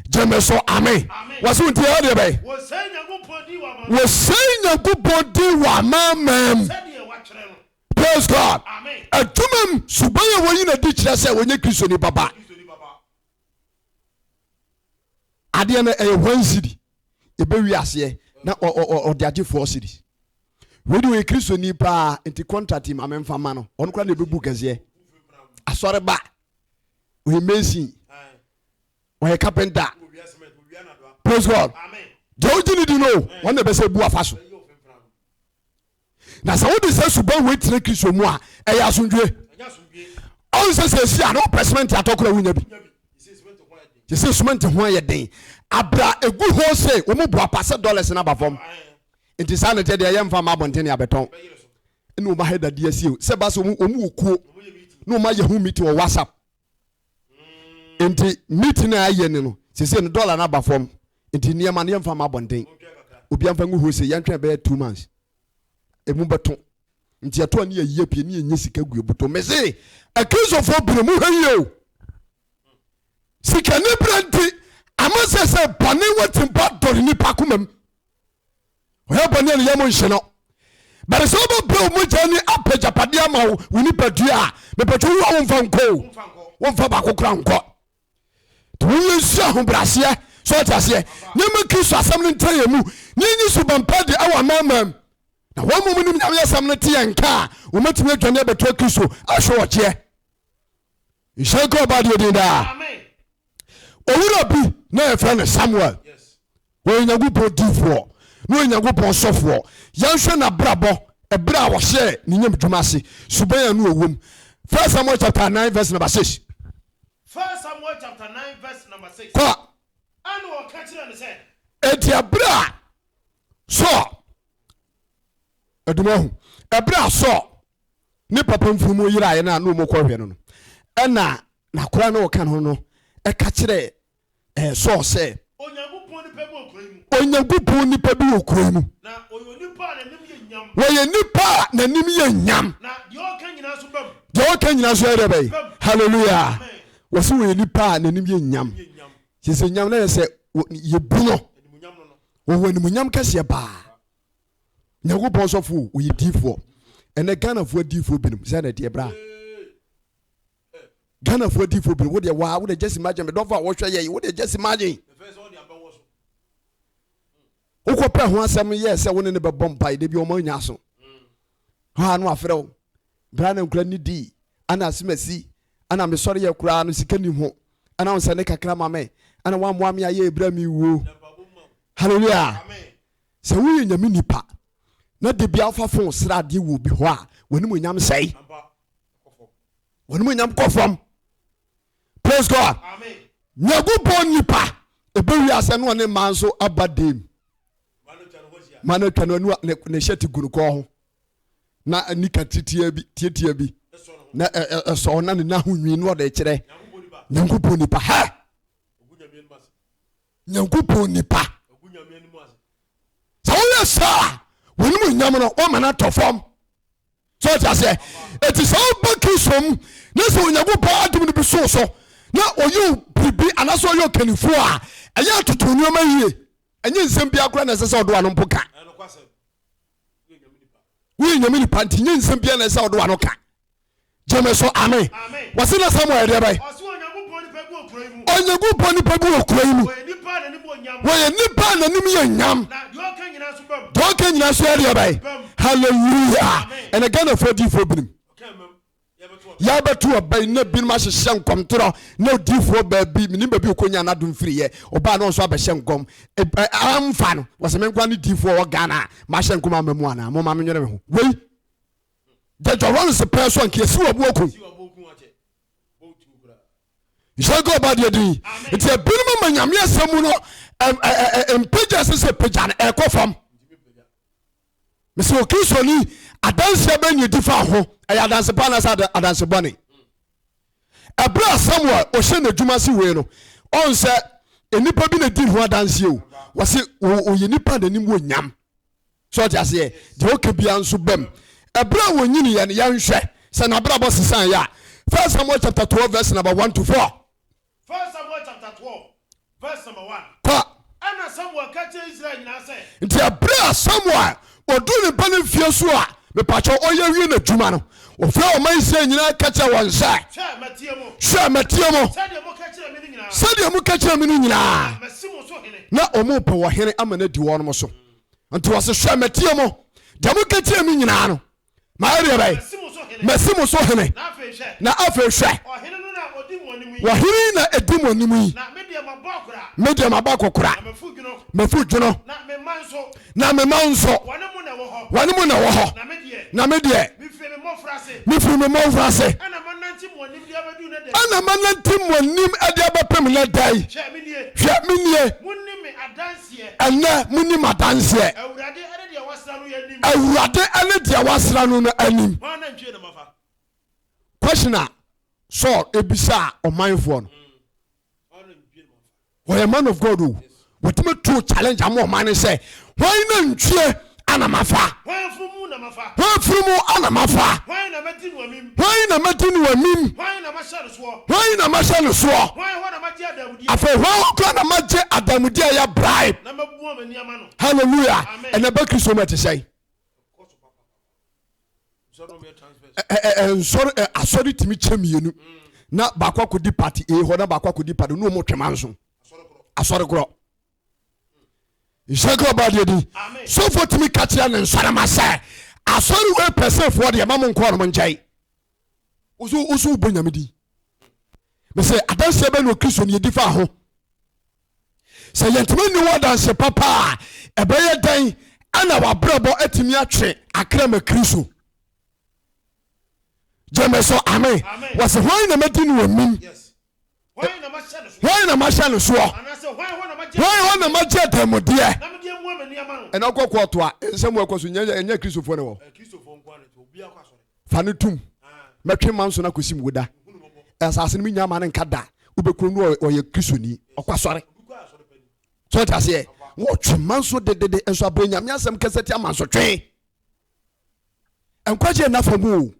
Gyeme so amen. Wɔsɛ wɔn ti ɛyɛ deɛ bɛyɛ. Wɔsɛe Nyankopɔn din wɔ amanaman mu. Praise God. Adwuma mu suban a wɔyi na di kyerɛ sɛ wɔnyɛ Kristoni baba. Adeɛ no ɛyɛ wɔn sidi ebewi aseɛ na ɔde agye four series. Wei de wɔyɛ Kristoni paa nti contract yi maame nfa ma no ɔno kora na ebebu kɛseɛ. Asɔreba ɔyɛ mason ɔyɛ carpenter. Praise God. Deɛ ɔgye ne di no wɔn na ɛbɛsɛ ebu afa so. na sɛ wode sɛ suban wei tena kristo mu a ɛyɛ asomdwie ɔn sɛ sɛ ɛsi a na wopɛ semɛnte atɔ kora wonya bi te sɛ semɛnte ho ayɛ den abra ɛgu hɔ se wɔmu boa pa sɛ dollars no aba fam nti saa ne tɛdeɛ ɛyɛ mfa ma abɔntene abɛtɔn ne wɔma ha dadeɛ asie sɛ ba sɛ wɔmu wɔ kuo na wɔma yɛ ho meeting wɔ whatsapp nti meeting a ayɛ ni no sese no dollar no aba fam nti nneɛma no yɛmfa ma abɔnten obi amfa ngu hose yɛntwɛn bɛyɛ two months emu bɛto nti ɛto a ne yɛyɛ pie ne yɛnyɛ sika gu ebuto mese akristofoɔ bere mu hwɛ yie o sikani berɛ nti ama sɛ sɛ bɔne watimpa dɔre nipa komam ɔyɛ bɔne a ne yam nhye no bɛde sɛ wobɛbrɛ wo mogya ni apɛ gyapadeɛ ama wo wo nipadua a mepɛtwo wo a womfa nkɔ womfa baako kora nkɔ nti wonyɛ nsu ahobraseɛ sɛ ɔte aseɛ nneɛma kristo asɛm no ntra yɛ mu ne nyi so bampa de ɛwɔ amamam na wɔn mmom nim nyame asɛm no te yɛ nka a wɔmatumi adwane abɛtoa kristo ahwɛ ɔgyeɛ nhyɛ nka ɔba deɛ din daa owura bi na yɛfrɛ no samuel wɔyɛ nyankopɔn difoɔ na ɔyɛ nyankopɔn sɔfoɔ yɛnhwɛ n'abrabɔ ɛberɛ a wɔhyɛɛ ne nyam dwuma ase suban a no ɔwom 1 samuel chapter 9 verse number 6 1 samuel chapter 9 verse number 6 kɔ ɛne wɔka kyerɛ no sɛ ɛti ɛberɛ a sɔ ɛdoma ho ɛberɛ a sɔ ne papa mfunumu yeraeɛ no a na wɔkɔhwɛ no no, ɛnna n'akoa a na ɔka ne ho no ka kyerɛɛ Saul sɛ, Onyankopɔn nipa bi wɔ kuro yi mu. Onyankopɔn nipa bi wɔ kuro yi mu. Na ɔyɛ onipa a n'anim yɛ nyam. Ɔyɛ nipa a n'anim yɛ nyam. Na deɛ ɔka nyinaa nso ba mu. Deɛ ɔka nyinaa nso yɛ dɛ bɛyi. Hallelujah. Wɔsi wɔyɛ nipa a n'anim yɛ nyam. Sisi nyam na yɛ sɛ yɛbu no. Wɔwɔ animuonyam kɛseɛ paa. nyankopɔn sɔfo o oyɛ diifoɔ ɛnɛ ghanafoɔ adiifoɔ binom sɛ na ɛdeɛ bra ghanafoɔ adiifoɔ binom wodeɛ waa wodeɛ gyesi magyen medɔfo a wɔhwɛ yɛn wodeɛ gyesi magyen wokɔpɛ ho asɛm yɛ sɛ wo ne ne bɛbɔ mpae da bi ɔma nya aso hɔ a no afrɛ wo bra na nkura ne dii ana asemasi ana mesɔre yɛ koraa no sika nim ho ana wo sɛ ne kakra ma me ana woammoa me ayɛ ɛberɛ me wuo halleluya Sɛ woyɛ Nyame nipa na da biara wofa fon srɛ adeɛ wɔ obi hɔ a, w'animuonyam sɛe. W'animuonyam kɔ fam. Praise God. Nyankopɔn nipa ɛbɛ wiase no ɔne mmaa nso aba dam. Ma no atwa no anu a ne hyɛ te gu no kɔɔ ho na nika titiɛ bi tietia bi na ɛsɔ na ne na ho nwi no ɔde kyerɛ Nyankopɔn nipa hɛ. nyankopɔn nipa sɛ woyɛ saa wɔnom nyam no wɔma no atɔ fam sɛ ɔte aseɛ ɛti sɛ woba kristo mu ne sɛ onyankopɔn adom no bi so so na ɔyɛ biribi anaasɛ ɔyɛ ɔkannifoɔ a ɛyɛ atoto nneɛma yie ɛnyɛ nsɛm bi akora na ɛsɛ sɛ ɔde wano mpo ka woyɛ nyame nipa nti nyɛ nsɛm bia na ɛsɛ ɔde wano ka Gyeme so ame. Wɔse na Samuel yɛ deɛ bɛn? Ɔse Onyankopɔn nipa bi wɔ kuro yi mu. Onyankopɔn nipa bi wɔ kuro yi mu. Ɔyɛ nipa a n'anim wɔ nyam. Ɔyɛ nipa a n'anim yɛ nyam. Na deɛ ɔka nyinaa nso bam. Deɛ ɔka nyinaa nso yɛ deɛ bɛn? Bam. Hallelujah. Amen. Ɛnɛ Ghanafoɔ diifoɔ binom. Ɔka mmam. Yɛbɛto ɔbɛn. Yɛbɛto ɔbɛn na binom ahyehyɛ nkɔmtorɔ na odiifoɔ baabi menim baabi ɔkɔnya n'adom firiiɛ ɔbaa na ɔnso abɛhyɛ nkɔm amfa no wɔse menkoa ne diifoɔ ɔwɔ Ghana a mahyɛ nkɔm ama mu anaa momma menwene me ho wei Jẹjọ runs pẹẹ so anka esi wɔ bo okun. Nhyɛnka ɔba deɛ din nti ebinom ama nyame asɛm mu no mpagya sɛ sɛ pagya no ɛkɔ fam mesɛ okristoɔni adanseɛ bɛ ne di fa ho ɛyɛ adanse pa anasɛ adanse bɔne ɛberɛ a samuel ɔhyɛ n'adwuma se wei no ɔn sɛ nnipa bi na di ho adanseɛ o wɔse ɔyɛ nipa n'anim wɔ nyam So ɔte aseɛ? Deɛ ɔka biara nso bam. Ɛberɛ a wɔnyiniiɛ no, yɛnhwɛ sɛ n'abrabɔ sesaeɛ a. First Samuel chapter twelve verse number one to four. First Samuel chapter twelve verse number one. Kɔ. Ɛna Samuel ka kyerɛ Israel nyinaa sɛ. Nti ɛberɛ a Samuel ɔduu ne ba no mfie so a, mepakyɛ ɔyɛ wie n'adwuma no, ɔfrɛ ɔma Israel nyinaa ka kyerɛ wɔn sɛ. Hwɛ, matie mo. Hwɛ, matie mo. Sɛdeɛ moka kyerɛ me no nyinaa. Sɛdeɛ moka kyerɛ me no nyinaa. Na masi mo so hene. Na wɔrepɛ ɔhene ama no adi wɔn so. nti wɔse hwɛ matie mo deɛ moka kyerɛ me nyinaa no mayɛ deɛ bɛyɛ masi mo so hene na afei hwɛ wɔhene na ɛdi mo anim yi me deɛ maba kɔkora mafu dwono na mema nso wɔne mu na wɔ hɔ na me deɛ mefiri me mmɔfra se ɛna manante mo anim de abɛpem no da yi hwɛ menie Ɛnnɛ, monim adanseɛ. Awurade ne deɛ wasra no no anim. Question a Saul ebisaa ɔmanfoɔ no. Wɔyɛ man of God o. Wɔtumi too challenge ama ɔman no sɛ, Hwan na ntwie ana mafa? Hwan afunumu na mafa? Hwan afunumu ana mafa? Hwan na mɛdi no amim? Hwan na mɛdi no amim? Hwan na mahyɛ no soɔ? Hwan na mahyɛ no soɔ? Hwan hɔ na magye adanmudeɛ? Afei hwan hɔ koraa na magye adanmudeɛ a ɛyɛ bribe? Na mabua m'ani ama no. Hallelujah. Amen. Ɛnɛ bɛ Kristo mu ɛte sɛn? nsɔre eh, asɔre tumi kyɛ mmienu na baako akɔdi party a hɔ na baako akɔdi party no ɔmo twema nso asɔre korɔ nhyira ka ɔbaa deɛ din sɔfoɔ tumi ka kyerɛ ne nsɔrema sɛ asɔre wei pɛsɛfoɔ deɛ ma mo nkɔɔ no mo nkyɛe woso woso wobɔ nyame din mesɛ adanseɛ bɛ ne ɔkristo ne yɛdi fa ho sɛ yɛntumi nni wɔ adanse papa a ɛbɛyɛ dɛn ɛna wabrɛbɔ atumi atwe akra ma kristo gyeme so ame wɔse hwan na madi ne ɔnim hwan na mahyɛ no soɔ hwan hɔ na magye adanmudeɛ ɛna wokɔ kɔɔto a nsɛm ɛkɔ so ɛnyɛ kristofoɔ ne wɔ fa no tum mɛtwe ma nso no akɔsi mu woda asase no menya ma no nka da wobɛkuro no ɔyɛ kristoni ɔkɔ asɔre sɛ ɔte aseɛ wɔtwe ma nso dedede nso abrɛ nyame asɛm kɛsɛ ti ama nso twen nkwagye nna fa mu o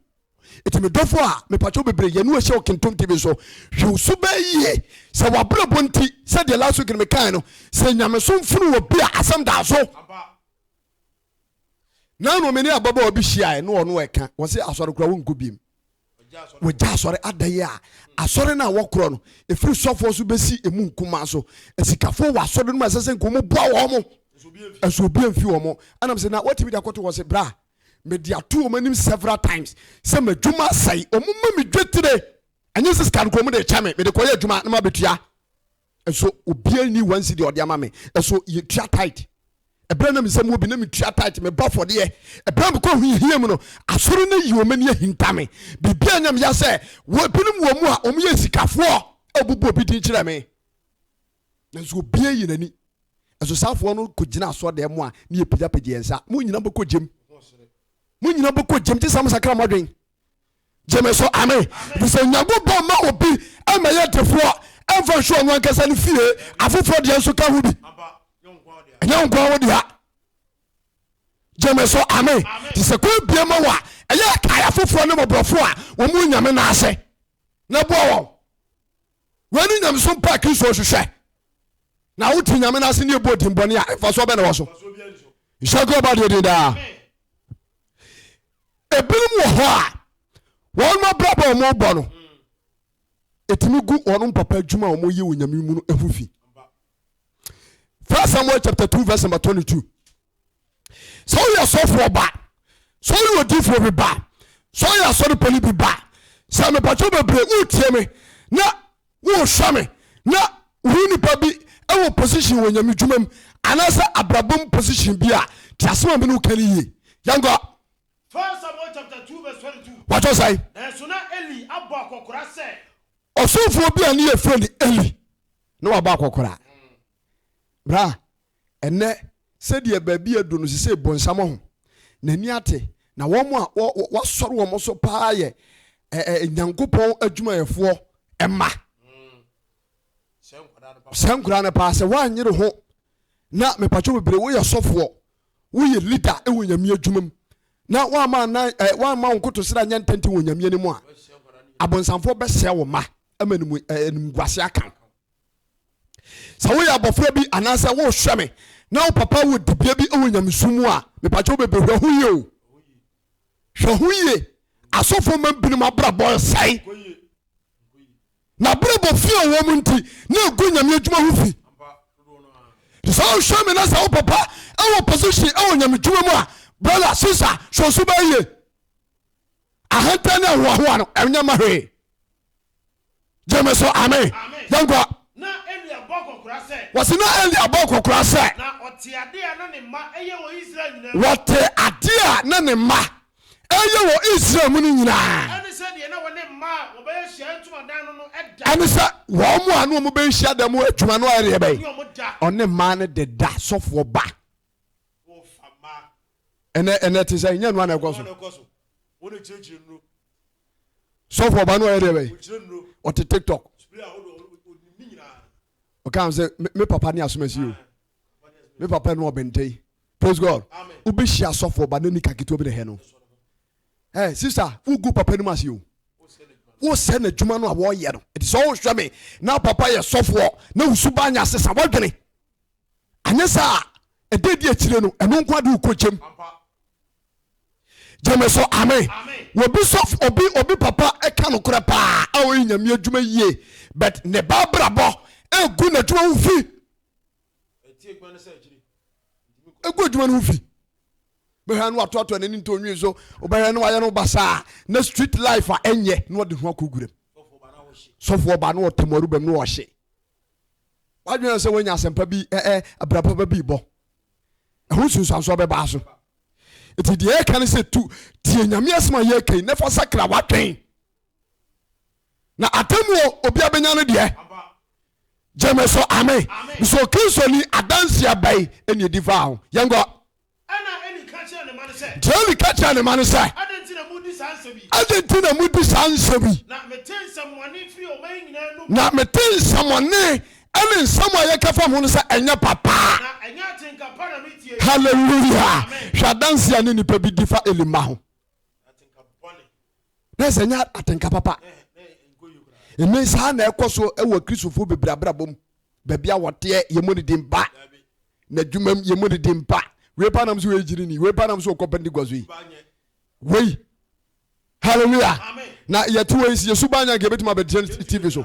ɛti me dɔfo a mepatwo bebree yɛne ɔhyɛ ɔkentom tv so hwɛ so bɛɛ yie sɛ wabrɛbɔ nti sɛ deɛ last week no mekae no sɛ nyamesom funu wɔ bi a asɛm daa so na no mene ababaawa bi hyiae na ɔno ɛka wɔ sɛ asɔre kora wonkɔ biem Wɔagya asɔre adaeɛ a asɔre no a wɔkorɔ no, ɛfiri sɔfoɔ so bɛsi ɛmu nkumaa so. Asikafoɔ wɔ asɔre no mu a ɛsɛ sɛ nka wɔboa wɔn mo, nso obi amfi wɔn mo anam sɛ na watumi de akɔto hɔ se, Bra. Mede ato wɔn anim several times sɛ m'adwuma asɛe, wɔma me dwetire, ɛnyɛ sɛ sika no koraa wɔde rekyɛ me, mede kɔyɛ adwuma na mabɛtua. Nso obiara nni one cedi a ɔde ama me. Nso yɛtua tithe. Ɛberɛ a na me nsa mu wɔ bi, na metua tithe, mebɔ afɔdeɛ. Ɛberɛ a mekɔ hiahia mu no, asɔre no ayi wɔn ani ahinta me. Biribi anyɛ me ya sɛ wɔ binom wɔ mu a wɔyɛ asikafoɔ a wɔbobɔ obi din kyerɛ me. Nanso obiara ayi n'ani. Nso saa afoɔ no kɔgyina asɔredan mu a na yɛpagyapagya yɛn nsa. Mo nyina bɛkɔ gyem. Mo nyina bɛkɔ gyem gye sɛ mosakra mo adwene. gyeme so ame efisɛ Onyankopɔn ma obi ma yɛ defoɔ ɛmfa nhwɛ ɔno ankasa no fie afoforɔ deɛ nso ka ho bi ɛnyɛ wo nkoa wo dea gyeme so ame nti sɛ kwan bie ma wo a ɛyɛ kae afoforɔ ne mɔborɔfoɔ a wɔmu nyame no ase na boa wɔn Wei ne nyamesom pa a Kristo hwehwɛ. Na wote Nyame no ase ne ɛbɔ dimbɔne a ɛmfa so bɛ na wɔ so. Nhyɛ nko ɔba deɛ din daa. Ebinom wɔ hɔ a wɔn mabrabɔ a wɔn bɔ no ɛtumi gu wɔn mpapa adwuma a wɔn yɛ wɔ Nyame mu no ɛho fi. First Samuel chapter two verse number twenty two. sɛ woyɛ sɔfoɔ ba sɛ woyɛ odifoɔ bi ba sɛ woyɛ asɔrepɔni bi ba sɛ mepatwɛ bebree woretie me na worehwɛ me na wohu nipa bi wɔ position wɔ nyame dwuma mu anaasɛ abrabɔ mu position bi a te asɛm a me ne woka no yie yɛnkɔ wɔtɔ sɛe ɔsomfoɔ bi a ne yɛfrɛ no eli na wabɔ akɔkora bra Ɛnnɛ, sɛdeɛ baabi aduro no seesei bonsam ahu, n'ani ate, na wɔn a wɔasɔre wɔn so pa ara yɛ Nyankopɔn adwumayɛfoɔ mma. Saa nkwadaa no paa, sɛ woanyere ho na mepatwo bebree, woyɛ sɔfoɔ, woyɛ leader wɔ nyame adwuma mu na woama nan woama wo nkotosrɛ anyɛ ntɛntɛn wɔ nyame anim a, abonsamfoɔ bɛsɛe wo ma ama animguase aka wo. sɛ woyɛ abɔfra bi anaasɛ wohwɛ me na wo papa wɔ dibea bi wɔ nyamesu mu a mepakyɛ wobɛbɛ hwɛ ho yie o hwɛ ho yie asɔfoɔ ma binom abrabɔ ɛsɛe na abrabɔ fi a wɔm nti na ɛgu nyame adwuma ho fi sɛ wohwɛ me na sɛ wo papa ɛwɔ position ɛwɔ nyame adwuma mu a brother sister hwɛ so bɛyie ahantan ne ahoahoa no ɛnyɛ ma hwee gyeme so ame yɛnkɔ wɔsi na eli abɔ kɔkora sɛ wɔte adeɛ a na ne mma ɛyɛ wɔ israel mu no nyinaa ɛne sɛ wɔn a na wɔn bɛyɛ hyia dan mu adwuma no ɛreɛ bɛyɛ ɔne mmaa no deda sɔfoɔ ba ɛnɛ ɛnɛ te sɛ nyɛ nua na ɛkɔ so sɔfo ɔba no ɔyɛ deɛ bɛyɛ ɔte tiktok ɔka sɛ me papa ne asomasi o me papa ne ɔbɛntɛn praise god wobɛhyia sɔfo ɔba no ni kaketewa bi na hɛ no ɛ sista wogu papa no mu ase o wosɛ n'adwuma no a wɔyɛ no ɛti sɛ wohwɛ me na papa yɛ sɔfoɔ na wosu ba nya sesa woadwene anyɛ saa a ɛda di akyire no ɛno nko ade wokɔ gyam gyeme so amen obi sɔfo obi obi papa ɛka no korɛ paa a ɔyɛ nyame adwuma yie but ne ba brabɔ ɛgu n'adwuma ho fi ɛgu adwuma no ho fi bɛhwɛ no watoatoa n'ani ntɔ nwi so wobɛhwɛ no wayɛ no basaa na street life a ɛnyɛ na ɔde ho akɔguram sɔfoɔ ba na ɔtamaru bɛm na ɔhye W'adwene ayɛ sɛ woanya asɛmpa bi ɛ abrabɔ ba bi bɔ. Ɛho nsunsuansoɔ bɛbaa so. Nti deɛ ɛka ne sɛ tu tie Nyame asɛm a yɛka yi na fa sakra w'adwen. Na atemmuo obi abɛnya no deɛ. Gyeme so amen. Mesɛ ɔkristo ni adanseɛ bɛn ɛne ɛdi faa ho. Yɛnkɔ. Ɛnna Eli ka kyerɛɛ ne mma no sɛ. Enti Eli ka kyerɛɛ ne mma no sɛ. Adɛn nti na modi saa nsɛm yi? Adɛn nti na modi saa nsɛm yi? Na mete nsɛmmɔne firi ɔman nyinaa anom. Na mete nsɛmmɔne ne nsɛm a yɛka fa mo ho no sɛ ɛnyɛ papa. Na ɛnyɛ atenka pa na metie yi. Hallelujah! Hwɛ adanse a ne nipa bi di fa Eli mma ho. Atenka bɔne. na ɛsɛ nyɛ atenka papa ɛnɛ saa na ɛkɔ so wɔ kristofoɔ bebree abrabɔ mu baabi a wɔteɛ yɛmmɔ ne din ba na adwuma mu yɛmmɔ ne din ba wei pa nam so wei gyiri ni wei pa nam so wɔkɔ pentecost yi wei hallelujah na yɛte wei si yɛsu ba nya nka yɛbɛtumi abɛgyina tv so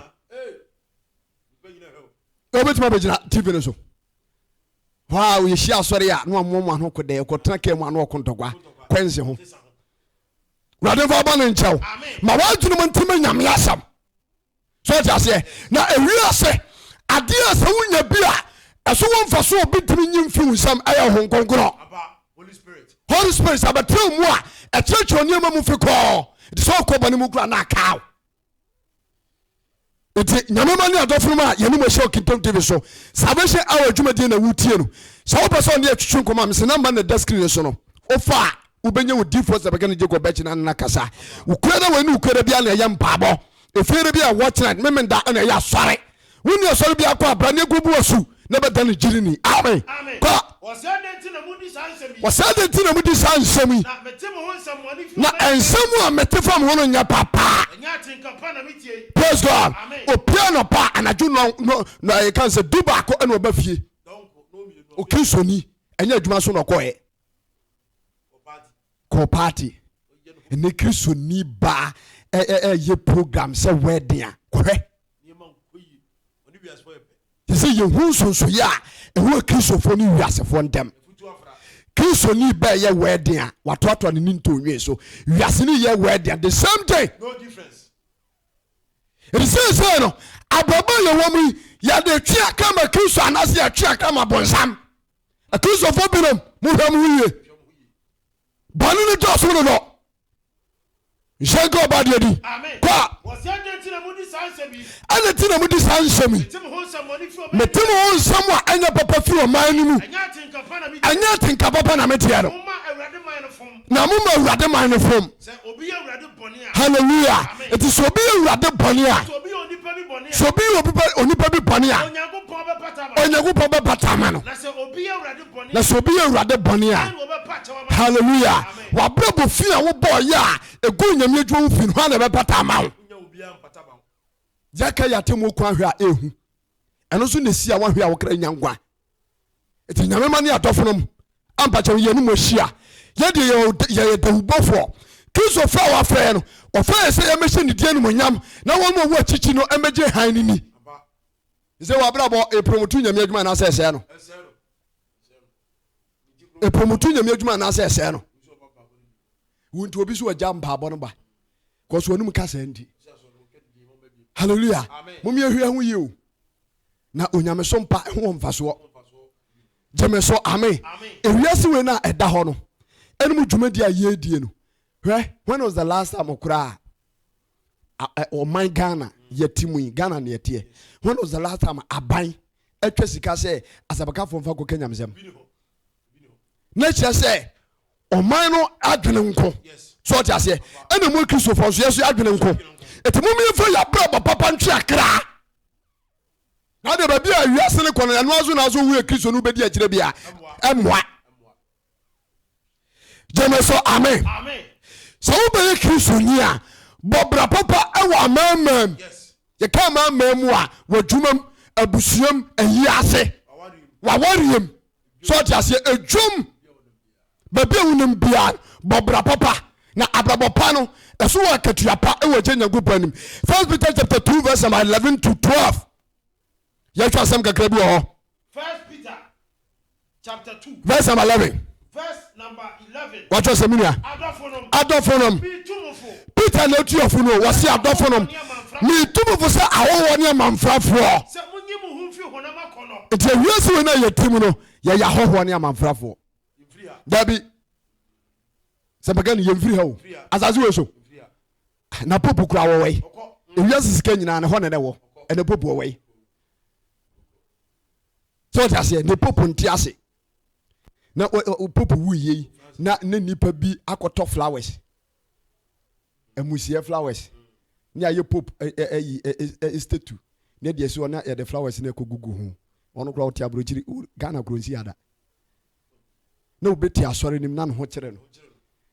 yɛbɛtumi abɛgyina tv no so hɔ a yɛhyia asɔre a na wamoa mu ano kodɛ ɛkɔtena kaa mu ano ɔko ntɔkwa kwansi ho wurade nfa bɔ ne nkyɛw ma w'adwenem ntumi nyame asɛm so ɔte aseɛ na ewi ase adeɛ a sɛ wonya bi a ɛso wɔ mfa so obi tumi nyi mfi wo nsɛm ɛyɛ ho nkonkorɔ holy spirit abɛtrɛ mu a ɛkyerɛkyerɛ nneɛma mu fi kɔɔ nti sɛ ɔkɔ bɔne mu kura na akaw nti nyame ma ne adɔfo no mu a yɛne mu ahyia okintom tv so salvation hour adwumadie na wotie no sɛ wopɛ sɛ ɔne yɛtwetwe nkɔmmɔ a mesɛ namba na ɛda screen no so no wofa a wobɛnya wo difoɔ sɛ bɛka no gye gɔbɛkyi na nana kasa wokuada wei ne wokuada bia na ɛyɛ mpaabɔ ɛfiere bi a watchnight memenda ɛna ɛyɛ asɔre Wo nni asɔre biara kɔ a, bra na yɛnkobu wo asu na ɛbɛda no gyidini. Amen. Kɔ. Wɔ sɛ adɛn nti na modi saa nsɛm yi? Wɔ sɛ adɛn nti na modi saa nsɛm yi? Na mete mo ho nsɛm wɔne fi Na ɔbɛn nsɛm nkyɛn. a mete fa mo ho no nyɛ papa. Ɛnyɛ atenka pa na metie yi. Praise God. Amen. Opie anɔpa a, anadwo nɔn, nɔ, nɔ, yɛka no sɛ du baako na ɔba fie. Dɔnko, nɔn mmienu, ɔbɛn. Okristoni, ɛnyɛ adwuma so na ɔkɔeɛ. kɔ party ne kristoni baa ɛyɛ program sɛ wedding a kɔhwɛ te sɛ yɛhu nsonsoyɛ a ɛwɔ kristofoɔ ne wiasefoɔ ntɛm kristoni bɛɛ yɛ wɛden a watoatoa ne ne ntɔnwe so wiase ne yɛ wɛden the same thing ɛti seesei no abrabɔ a yɛwɔ mu yi yɛde twe akra ma kristo anaasɛ yɛtwe akra ma bonsam Akristofoɔ binom mohwɛ mo ho yie. Bɔne no dɔɔso no dɔ. Nhyɛ nka ɔba deɛ di. Kɔ a. Ɛna ti na mo di saa nsɛm yi. Mete mo ho nsɛm a ɛnyɛ papa firi ɔman no mu. Ɛnyɛ atenka papa na meteɛ no. na mo ma awurade man no fam hallelujah nti sɛ obi yɛ awurade bɔne a sɛ obi yɛ obi bɛ- onipa bi bɔne a onyankopɔn bɛpata ama no na sɛ obi yɛ awurade bɔne a hallelujah wabrabɔ fi a wobɔɔ yɛ a ɛgu nyame adwuma mu fi no hɔ a na ɛbɛpata ama wo yɛka yɛ atemmuo kwan hwɛ a ɛhu ɛno nso na ɛsi a woahwɛ a wokra nya nkwa nti nyame ma ne adɔfonom ampakyɛ wo yɛne mu ahyia yɛdeɛ yɛyɛ dawubɔfoɔ kristofoɔ a wafrɛ no ɔfrɛ yɛ sɛ yɛmmɛhyɛ ne deɛ nomonyam na wɔn a ɔwɔ akyikyi no mmɛgye han no ni sɛ wɔabrabɔ ɛpromoto nyame adwuma anaasɛ ɛsɛɛ no ɛpromoto nyame adwuma anaasɛ ɛsɛɛ no wo nti obi so agya mpaabɔ no ba kɔso anom ka saa nti halleluya momyɛhwɛ ho yie o na onyamesom pa ho wɔ mfasoɔ gyeme so ame ewiase wei no a ɛda hɔ no ɛne mu dwumadi a yɛdie no hwɛ when was the last time koraa ɔman ghana yɛte mu yi ghana ne yɛteɛ when was the last time aban atwa sika sɛ asɛbakafoɔ mfa kɔka nyamesɛm na kyerɛ sɛ ɔman no adwene nko so ɔte aseɛ ɛna mu akristofoɔ nso yɛso yɛ adwene nko ɛti mom yɛmfa yɛabrabɔ papa ntwe akra Na de baabi a wiase no kɔ no, ɛno aso na aso wu yɛ Kristo no bɛdi akyire bia. Ɛmmoa. Gyeme so amen. Sɛ wobɛyɛ Kristo ni a, bɔ bra papa ɛwɔ amammaa mu. Yɛka amammaa mu a, w'adwumam, abusuam, ahiase, w'awareɛm. so ɔte aseɛ ɛdwom baabi a wonim biara bɔ bra papa na abrabɔ pa no ɛso wɔ akatua pa ɛwɔ gye nyankopɔn anim first peter chapter 2 verse number 11 to 12 yɛhwɛ asɛm kakra bi wɔ hɔ verse number 11 wate ase me nua adɔfo nom peter na ɔtu afo no wɔse adɔfo nom metu mo fo sɛ ahɔhoɔ ne amanfrafoɔ nti ɛhia sɛ wei no a yɛti mu no yɛyɛ ahɔhoɔ ne amanfrafoɔ daabi sɛ bɛka ne yɛmfiri ha o asase wei so na popu kora wɔwɔi ɛwia se sika nyinaa ne hɔ ne ne wɔ ɛne popu wɔwɔi sɛ ɔte aseɛ ne popu nte ase na pope wuiɛ yi na ne nipa bi akɔtɔ flowers amusiɛ flowers ne ayɛ pope ayi estatu na deɛ si hɔ na yɛde flowers no ɛkɔgugu ho ɔno koraa ɔte aburokyiri ghana kuro nsi ada na wobɛti asɔre nim na ne ho kyerɛ no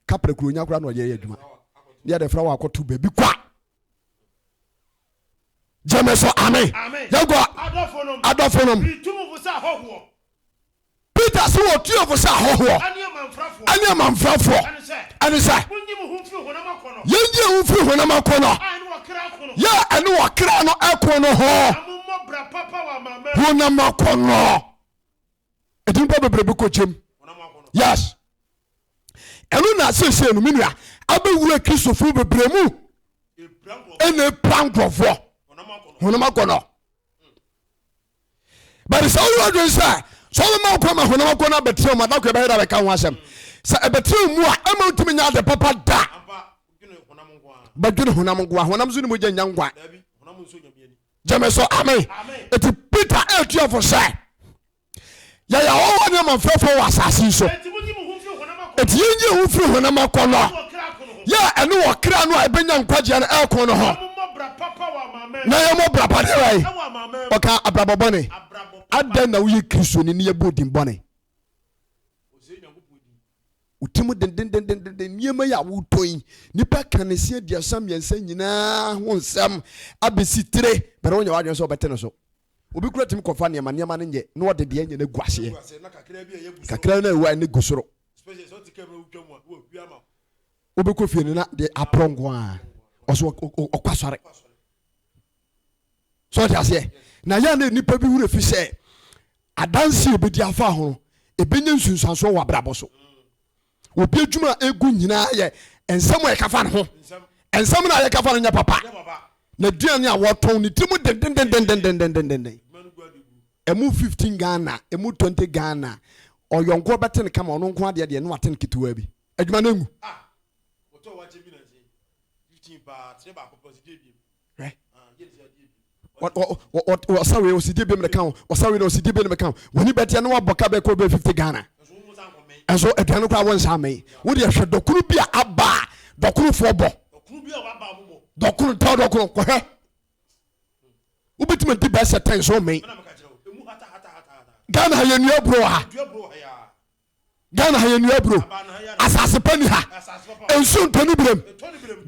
kapra kuro nya koraa na ɔyɛ yɛ adwuma ne yɛde flower akɔto baabi kwa gyeme so ame yɛgua adɔfo nom peter se wɔ tue fo sɛ ahɔhoɔ ɛne amanfrafoɔ ɛne sɛ yɛnyi ho mfiri honam ako no yɛ ɛne wɔkra no ɛko no ho honam ako no ɛdi nipa bebrebe kɔgyem yes ɛno na seesei no me nua abɛwura kristofo bebree mu ɛna ɛpira nkurɔfoɔ honam akɔnɔ but sɛ woyɛ adwene sɛ sɛ wobɛma wokɔ ma honam akɔnɔ abɛtena mu adako ɛbɛyɛ da bɛka ho asɛm sɛ ɛbɛtena mu a ɛma wotumi nya ade papa da bɛdwene honam nkoa honam so ne mogya nya nkwa gyeme so amen ɛti peter ɛtuafo sɛ yɛyɛ ahɔhoɔ ne amanfrɛfoɔ wɔ asase so ɛti yɛnyi ho firi honam akɔ no yɛ ɛne wɔ kra no a ɛbɛnya nkwagyeɛ no ɛko no ho na yɛmmɔ bra pa deɛ wae ɔka abrabɔ bɔne adɛn na woyɛ kristoni ne yɛbɔ din bɔne wotim dendendendenden nneɛma yi a wotɔ yi nipa ka ne se aduasa mmiɛnsa nyinaa ho nsɛm abɛsi tire bɛrɛ wonya wadwene sɛ wɔbɛte no so Obi koraa tumi kɔfa nneɛma, nneɛma no nyɛ, na ɔde deɛ anya no agu aseɛ. Kakraa no a ɛwɔ ha no agu soro. Wobɛkɔ fie no na deɛ aporɔ nko ara. Ɔso ɔkɔ asɔre. So ɔte aseɛ. Na yɛn na nnipa bi wura fi sɛ adanse a obɛdi afa ho no, ɛbɛnya nsunsuansoɔ wɔ abrabɔ so. Obi adwuma a egu nyinaa yɛ nsɛm a ɛkafa ne ho. Nsɛm no a yɛkafa no nyɛ papa. N'aduane a wɔtɔn ne tiri mu dendendendendendendenden. Emu fifteen Ghana, emu twenty Ghana. Ɔyɔnkoɔ bɛte no kama, ɔno nko adeɛ deɛ no ate no ketewaa bi. Adwuma no engu. Ah, wɔtɔ wakye bi na nkyɛn. Fifteen paa, tere baako pɔ, sika ebien. ɔsa wei ɔsi di bi mu de kan ɔsa wei na ɔsi di bi mu kan wɔn ni bɛteɛ na wabɔ ka bɛɛ kɔ bɛɛ fifty ghana ɛnso aduane koraa wɔn nsa ama yi wɔn deɛ hwɛ dɔkono bi a aba a dɔkonofoɔ bɔ dɔkono tɛ dɔkono kɔhwɛ wobɛtumi di bɛɛ sɛ tɛn so mɛn ghana ha yɛ nua buro ha Ghana ha yɛnnua aburo. Asase pa nni ha. Nsuo ntɔ ne birem.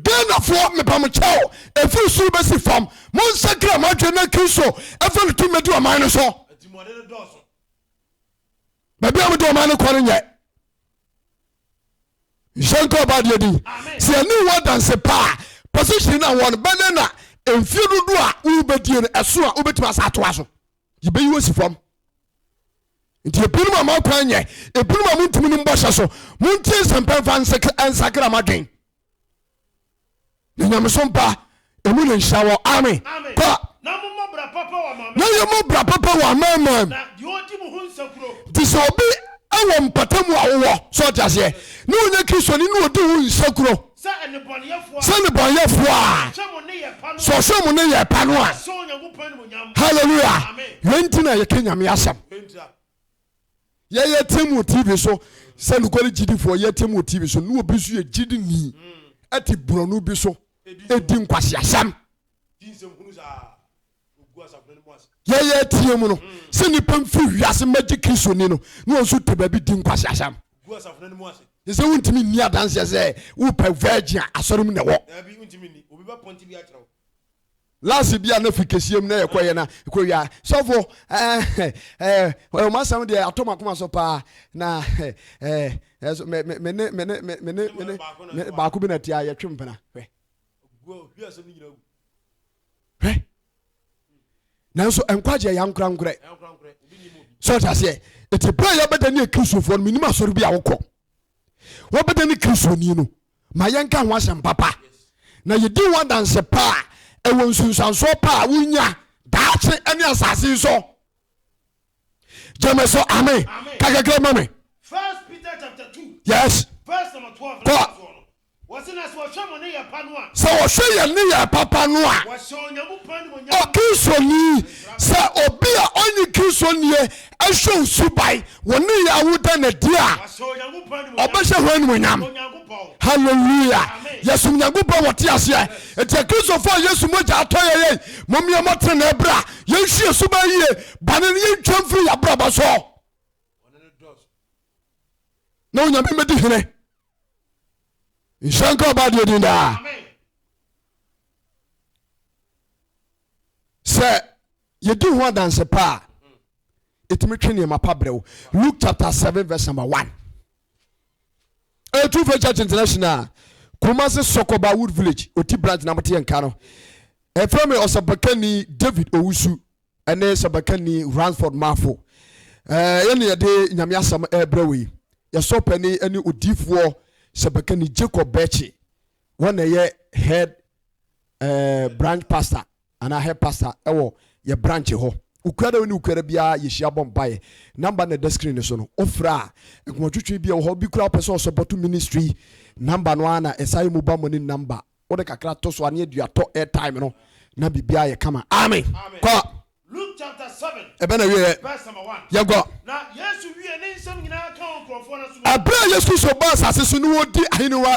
Ghanafoɔ meba mo kyɛw ɛfiri soro bɛsi fam monsakra mo adwene na Kristo ɛfa ne tumi di ɔman no so. Baabi a mode ɔman no kɔ no nyɛ nhyɛ nka ɔba adeɛ din sɛ ɛne wɔ danse paa position na wɔn bɛnɛ na mfie dodo a wobɛdie no ɛso a wobɛtumi asa atoa so yɛbɛyi wo asi fam nti ebinom a moakwan nyɛ ebinom a montumi no mbɔhyɛ so montie nsɛmpa mfa nsakra madwen na nyameso mpa ɛmu ne nhyira wɔ ame kɔ na yɛmmɔ bra papa wɔ amamam nti sɛ obi wɔ mpata mu a wowɔ sɛ ɔte aseɛ na ɔnyɛ kristoni na ɔdi wo nsakuro Sɛ nnebɔneyɛfoɔ a, sɛ ɔhwɛ ɔmo ne yɛ pa no a, hallelujah, yɛn ti na yɛka nyame asɛm. Yɛyɛ team wɔ TV so sɛ nukɔre gyidifoɔ, yɛ team wɔ TV so ne obi nso yɛ gyidi ni ɛte borɔno bi so ɛdi nkwasi asɛm. yɛyɛ atie mu no sɛ nnipa mfiri wiase mmɛgye kristo ni no na wɔn nso te baabi di nkwaseasɛm ne sɛ wontumi nni adanseɛ sɛ wopɛ virgin a asɔre mu na ɛwɔ lase bi a na fi kɛseɛ mu na yɛkɔyɛ na ɛkɔwia sɔfo ɔmasɛm deɛ atɔ makoma so paa na mene baako bi na tia yɛtwe mpena hwɛ hwɛ nanso nkwagye ɛyɛ ankorankorɛ sɛ ɔte aseɛ ɛti berɛ a yɛbɛda ne akristofoɔ no menim asɔre bi a wokɔ wɔbɛda ne kristoni no ma yɛnka ho asɛm papa na yɛdi ho adanse paa ɛwɔ nsunsuansoɔ paa wonya daakye ne asase so gyeme so ame kakakra ma me yes sɛ wɔhwɛ yɛn ne yɛ papa no a ɔkristoɔni sɛ obi a ɔnye kristoɔniɛ ɛhwɛ osubae wɔ ne yɛ awoda na di a ɔbɛhyɛ ho animonyam halleluya yɛsom nyankopɔn wɔte aseɛ ɛti akristofoɔ a yesu mogya atɔ yɛyɛ momyɛ mɔtene bra yɛnsi yɛ so bɛn yie bɔne no yɛntwa mfiri yɛ abrabɔ so na onyame mɛdi hene nhyɛ nka ɔba deɛ din daa sɛ yɛdi ho adanse pa a ɛtumi twe nneɛma pa berɛ wo luke chapter 7 verse number 1 ɛyɛ tufa church international kumase sɔkɔba wood village ɔti branch na moteɛ nka no ɛfrɛ me ɔsɛbakani david owusu ɛne sɛbakani ransford mafo yɛne yɛde nyame asɛm ɛbrɛ wei yɛsɔ pani ɛne odifoɔ sɛbakani jacob bɛkye wɔn na ɛyɛ head uh, branch pastor Anaa hɛ pasta ɛwɔ yɛ branch hɔ. Ukua da wo ne ukua da biara yɛ hyia bɔ mpaeɛ. Number no na ɛda screen no so no wo frɛ a. Nkoma twitwi bi wɔ hɔ obi koraa ɔpɛ sɛ ɔ support ministry yi number no ara na ɛsan yɛ mobile money number. Wo de kakra to so a ne adua tɔ airtime no na biribiara ayɛ kama. Amen. Kɔ. Luke chapter seven Ɛbɛ na wieɛ. verse number one. Yɛn kɔ. Na Yesu wiee ne nsɛm nyinaa kaa wɔ nkurɔfoɔ no aso no. Ɛberɛ a Yesu Kristo baa asase so ne ɔredi ahennwa.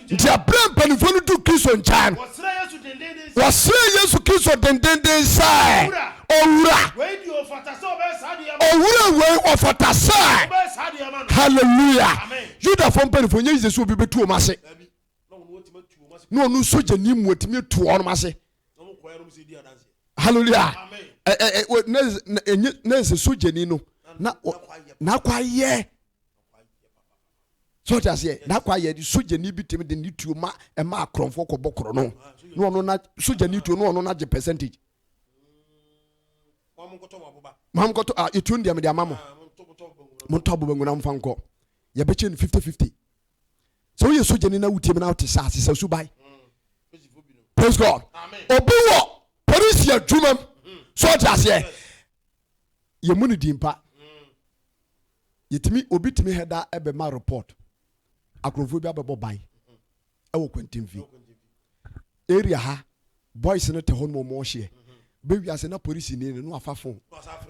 Nti aberɛ mpanimfoɔ no du Kristo nkyɛn no, wɔsrɛɛ Yesu Kristo dendenden sɛ, Owura, Owura wei ɔfata sɛ, Hallelujah! Yudafoɔ mpanimfoɔ nyɛ yize sɛ obi bɛtu wɔn ase, na ɔno sogyani mu atumi atu wɔn ase. Hallelujah! Na nsɛ sogyani no na n'akwa yɛ So ɔte aseɛ? Daa kwa yɛ de sogyani bi tumi de ne tuo ma ɛma akorɔmfoɔ kɔbɔ korɔ no na ɔno na sogyani tuo na ɔno na gye percentage. Mo nkɔtɔ ah etuo no deɛ mede ama mo. Mo ntɔ abo banku na mo fa nkɔ. Yɛbɛkyɛ no fifty fifty. Sɛ woyɛ sogyani na wotie mu na wote saa sesa suban. Praise God. Obi wɔ polisi adwuma mu. So ɔte aseɛ? Yɛmu no din pa. Yɛtumi, obi tumi hɛda bɛma report, akorɔmfoɔ bi abɛbɔ ban ɛwɔ kwantinfi area ha, boys no te hɔ nom ɔmo ɔhyeɛ, bɛwia ase na polisi ni no, no afa phone,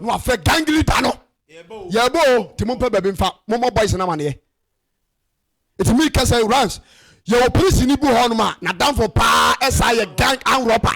no afɛ gang leader no, yɛbɔ o, ti mo mpɛ baabi mfa, mo mɔ boys no amaneɛ. Eti mi kɛsɛ runs, yɛwɔ polisi ni bu hɔ nom a, na danfo paa ɛsa yɛ gang and robber.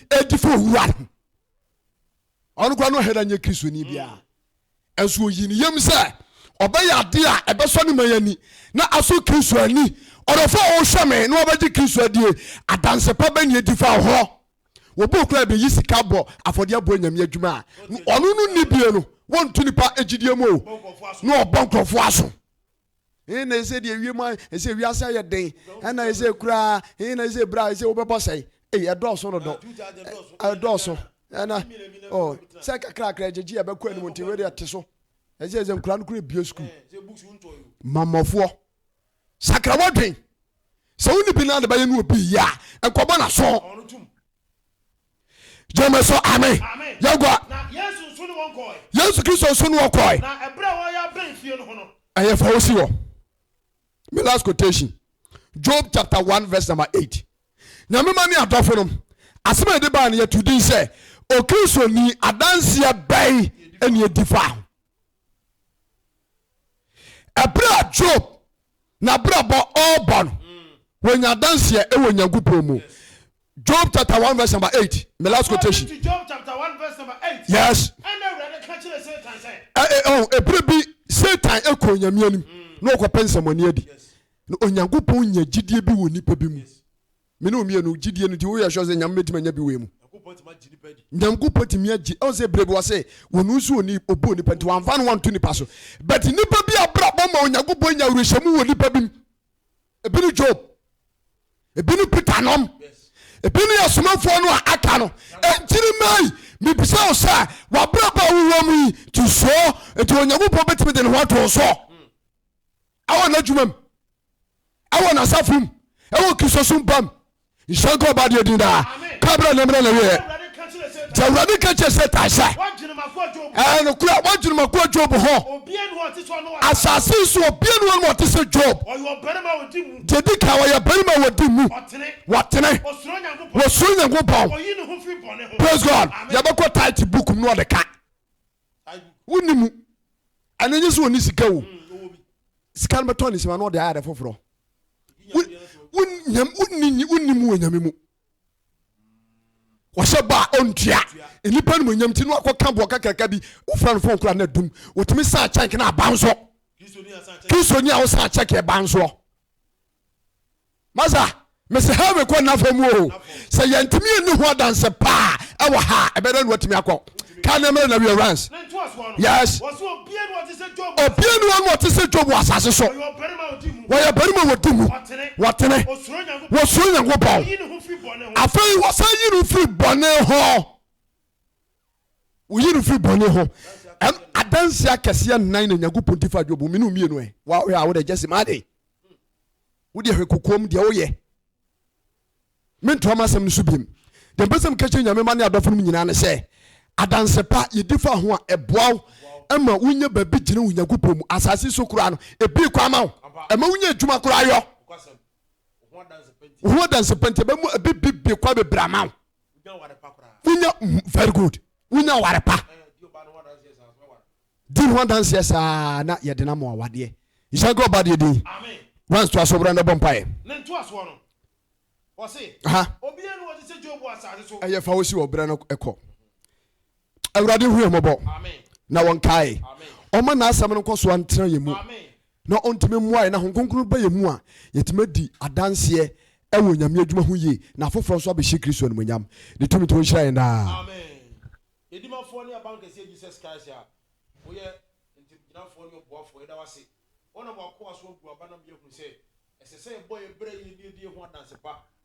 ɛdi fo owua no ɔno kora no hɛda nyɛ kristoni biara ɛnso ɔyi ne yam sɛ ɔbɛyɛ adeɛ a ɛbɛsɔ ne ma yɛni na aso kristo ani ɔdɔfo a ɔhwɛ me na wɔbɛgye kristo adie adanse pa bɛne adi fa hɔ wɔbɔ kura bɛyi sika bɔ afɔdeɛ bɔ nyame adwuma a ɔno no nni bie no wɔnto nipa agyidie mu o na ɔbɔ nkurɔfoɔ aso He na ɛsɛ deɛ wiem a ɛsɛ wiase ayɛ den ɛna ɛsɛ kuraa he na ɛsɛ bere a ɛsɛ wobɛbɔ sɛe ei ɛdɔɔso no dɔ ɛdɔɔso ɛna ɔ sɛ kakrakra gyegye a ɛbɛkɔ anim nti wei deɛ te so ɛsɛ sɛ nkura no kura bie sukuu mammɔfoɔ sakra wadwen sɛ wo ne bi no ade bɛyɛ ne obi yɛ a nkɔbɔ na so gyeme so ame yɛgua yesu kristo nso ne wɔkɔe ɛyɛ fa wosi hɔ me last quotation job chapter 1 verse number 8 nyame ma ne adɔfo nom asɛm a yɛde baa no yɛto din sɛ okristoni adanseɛ bɛn ɛne ɛdi fa ho ɛberɛ a job n'abrabɔ ɔreba no wɔnya adanseɛ ɛwɔ nyankopɔn mu job chapter 1 verse number 8 my last quotation yes ɛberɛ bi satan ɛkɔ onyame anim na ɔkɔpɛ nsɛmɔne adi na onyankopɔn nya gyidie bi wɔ nipa bi mu Me ne wo mmienu, gyidie no nti, wo yɛ sure sɛ Nyame bɛtumi anya bi wɔ yɛ mu? Nyankopɔn tumi agye nipa adi. Nyankopɔn tumi agye, ɔhu sɛ berɛ bi ɔse, ɔno nso ɔni, ɔbɔɔ nipa nti wamfa no anto nipa so, but nipa bi abrabɔ ma Onyankopɔn nya awerɛhyɛmu wɔ nipa bi mu, ebi ne Job, ebi ne Peter nom, ebi ne asomafoɔ no a aka no, enti ne mma yi, mebisa wo sɛ, w'abrabɔ a wo wɔ mu yi, nti sure nti Onyankopɔn bɛtumi de ne ho ato wo so? ɛwɔ n'adwuma mu ɛwɔ n'asafo mu ɛwɔ kristosom ba mu nhyɛ nka ɔba deɛ din daa kabra ne mmerɛ na wieɛ nti awurade ka kyerɛ sɛ tae sɛ ɛɛ nokora woadwenemakoa job ho asase so obia ne wɔnom ɔte sɛ job deɛ di ka wɔyɛ barima a wɔdi mu wɔtene wɔsuro nyankopɔn praise god yɛbɛkɔ tit book mu na ɔde ka wonni mu ɛno nye sɛ ɔni sika o sika no bɛtɔ ne sima na ɔde ayɛ ade foforɔ wonni mu wɔ nyame mu wɔhyɛ bɔ a ɔntua nnipa no mu nyam ti no akɔka boɔ kakraka bi wofra no fon kora no adum wɔtumi saa kyɛnk no aba nso kristoni a wosaa kyɛk ɛba nsoɔ Masa, mese heaven kɔ nna famu o. Sɛ yɛntumi ɛni ho adanse paa ɛwɔ ha a, ɛbɛyɛ dɛn na watumi akɔ? Ka ne mmerɛ na wie Rance. Yes. Obie ni hɔ no ɔte sɛ Job wɔ asase so. Wɔyɛ barima a wɔdi mu. Wɔtene. Wɔsuro Nyankopɔn. Afei wɔsan yi no firi bɔne ho. Woyi no firi bɔne ho. Ɛm, adanseɛ akɛseɛ nnan na Nyankopɔn di fa Job ho. Mene mmienu ɛ. Wo a wohwɛ a, wo deɛ gyɛ sima ade. Wo deɛ hwɛ kokoam deɛ woyɛ. Mentoa m'asɛm no so biom. Deɛ mpɛ sɛ meka kyerɛ Nyame mma ne adɔfo no mu nyinaa ne sɛ, adanse pa yɛdi fa ho a, ɛboa wo ma wonya baabi gyina wɔ Nyankopɔn mu. Asase so koraa no, ɛbue kwan ma wo. Ɛma wonya adwuma koraa yɔ. ho adanse pa nti ɛbɛ mu ebi bi bi kɔ bebree ama wo wonya very good wonya ware pa di ho adanseɛ saa na yɛde no ama awadeɛ nhyɛ nka ɔba deɛ din wans to aso berɛ no bɔ mpaeɛ ne ntoasoɔ no wɔse obiara no wɔte sɛ job wɔ asase so ɛyɛ fa wo si wɔ berɛ no ɛkɔ awurade hu yɛ mmɔbɔ na wɔnkae ɔma n'asɛm no nkɔsoa ntena yɛ mu na ɔntumi mmoa yɛn na Honhom Kronkron ba yɛn mu a, yɛtumi adi adanseɛ wɔ Nyame adwuma ho yie na afoforɔ nso abɛhyɛ Kristo animuonyam. Ne tumi nti ɔnhyira yɛn daa. Amen. Yɛn Dimafoɔ ne Abankɛseɛ Jesus Christ a woyɛ Ntamgyinafoɔ ne Ɔboafoɔ, yɛda wo ase. Wonam w'akoa so abu aba na ma yɛahunu sɛ ɛsɛ sɛ yɛbɔ yɛn bra yie na yɛdi yɛn ho adanse pa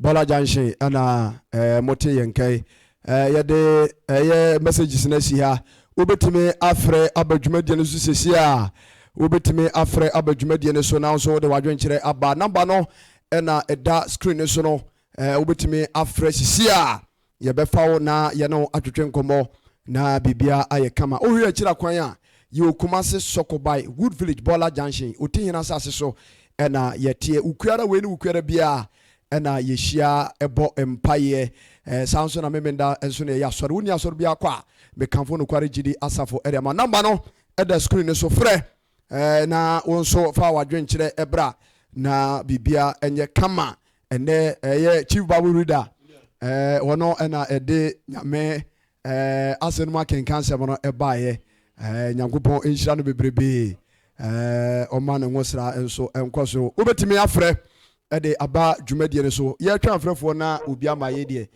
Bɔla Junction na mote yɛn nka yi. Yɛde ɛyɛ messages no asi ha. Wobɛtumi afrɛ aba dwumadie no so sɛsi a. Wobɛtumi afrɛ aba dwumadie no so na nso wode w'adwenkyerɛ aba. Namba no na ɛda screen no so no. Wobɛtumi afrɛ sɛsi a Yɛbɛfa wo na yɛne wo atwetwe nkɔmmɔ na biribiara ayɛ kama. Wohwɛ akyiri akwan a, yɛwɔ Kumasi, Sokobai, Wood Village, Bɔla Junction, Otihene asase so na yɛteɛ. Wo kuara wei ne wo kuara biara na yɛhyia bɔ mpaeɛ. Saa nso na Memenda nso na yɛyɛ asɔre. Wonni asɔre biara kɔ a, mekamfo nokware gyidi asafo de ama. Namba no da screen no so. Frɛ Na wo nso fa w'adwenkyerɛ bra na biribiara nyɛ kama. Ɛnnɛ ɛyɛ Chief Bible Reader hɔ no na ɛde Nyame asɛm no mu akenkan sɛm no baeɛ. Nyankopɔn nhyira no bebrebe. Ɔma ne nwosra nso nkɔ so. Wobɛtumi afrɛ de aba dwumadie no so. Yɛtwɛn afrɛfoɔ na obi ama yɛ deɛ.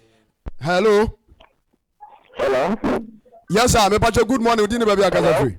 Hello. Hello. Yes sir, mepakyɛ good morning, wodi ne baabi akasa firi.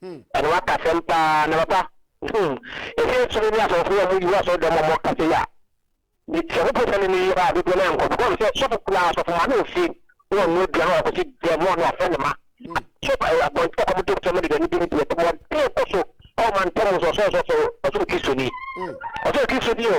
Hmm. Ɛna waka asɛm paa na papa hmm ɛsɛ ɛtumi ne asɔfoɔ a wɔyi wɔ asɔre dɛm ɔmɔ kasa yi a sɛ wopɛ sɛ ne ne yɛ a dodoɔ no ayɛ nkɔfo kɔm sɛ sɔfo kura asɔfo ma ne ofie na ɔno aduane a ɔkɔsi dɛm ɔne afɛ ne ma so abɔnten ɔkɔm de fam de dɛm de ne deɛ tɛm ɔde kɔ so ɔma ntɛm nso ɔsɛ ɔsɔfo ɔsɛ kristoni ɔsɛ kristoni o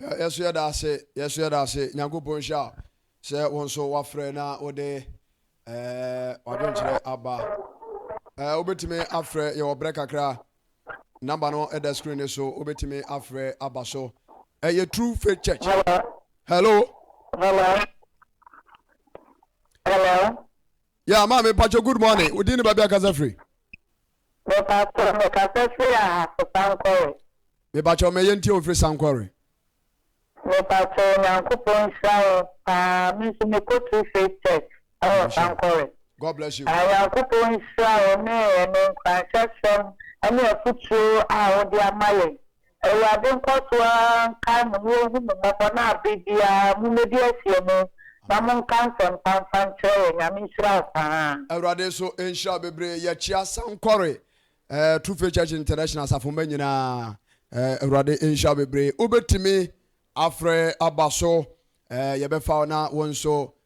Yɛ so yɛda ase, yɛ so yɛda ase. Nyankopɔn nhyira wo sɛ wo nso woafrɛ na wode w'adwenkyerɛ aba. Wobɛtumi afrɛ, yɛwɔ berɛ kakra. Namba no ɛda screen no so, wobɛtumi afrɛ aba so. Ɛyɛ True Faith Church. Hello. Hello. Hello. Yeah, maame, mpakyɛ good morning. Wodin ne baabi akasa firi? Me pakyɛw me kasa firi ahafo sankɔre. Me pakyɛw me yɛntie o firi sankɔre. Me pakyɛw nyankopɔn nhyira wo paa me nso me kɔ true faith church ɛwɔ sankɔre. God bless you. Ah nyankopɔn nhyira wo ne ɛne nkuranhyɛsɛm ɛne afutuo a wode ama yɛn Awurade nkɔ so ara nkae mo na ɔnhu mo mmɔbɔ na bere biara mommɛdi asie mu na monka nsɛmpa mfa nkyerɛ yɛn. Nyame nhyira wo paa. Awurade nso nhyira wo bebree. Yɛkyea Sankore True Faith Church International asafo mma nyinaa. Awurade nhyira wo bebree. Wobɛtumi afrɛ aba so. Yɛbɛfa wo na wo nso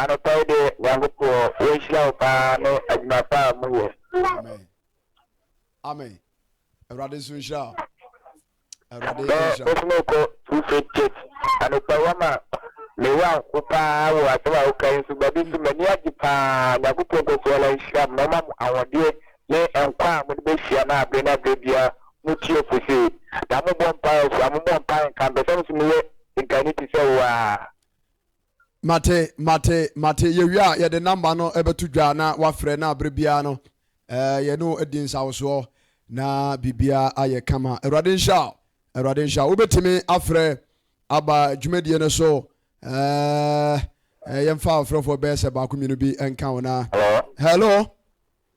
Anɔpa yi deɛ Nyankopɔn wɔnhyira wo paa ne adwuma pa a moyɛ. Amen. Amen. Awurade nso nhyira wo. Awurade nhyira wo. Bɛɛ nso kɔ True Faith Church. Anɔpa yi ama mewɔ anko paa wɔ asɛm a woka yi nso baabi nso m'ani agye paa. Nyankopɔn nkɔ so ara nhyira mo na ɔma mo ahoɔdeɛ ne nkwa a mode bɛhyia no aberɛ no aberɛ biara motie ɔfo sei. Na mobɔ mpaeɛ nso a mobɔ mpaeɛ nka mpɛ sɛ nso meyɛ Nka no te sɛ wo ara. Mate, mate, mate. Yɛwie a, yɛde namba no bɛto dwa na woafrɛ na berɛ biara no eh, yɛne wo adi nsawosoɔ na biribiara ayɛ kama. Awurade nhyira wo. Awurade nhyira wo. Wobɛtumi afrɛ aba dwumadie no so eh, eh, yɛmfa ɔfrɛfoɔ bɛyɛ sɛ baako mmienu bi nka wo na. Hello. Hello.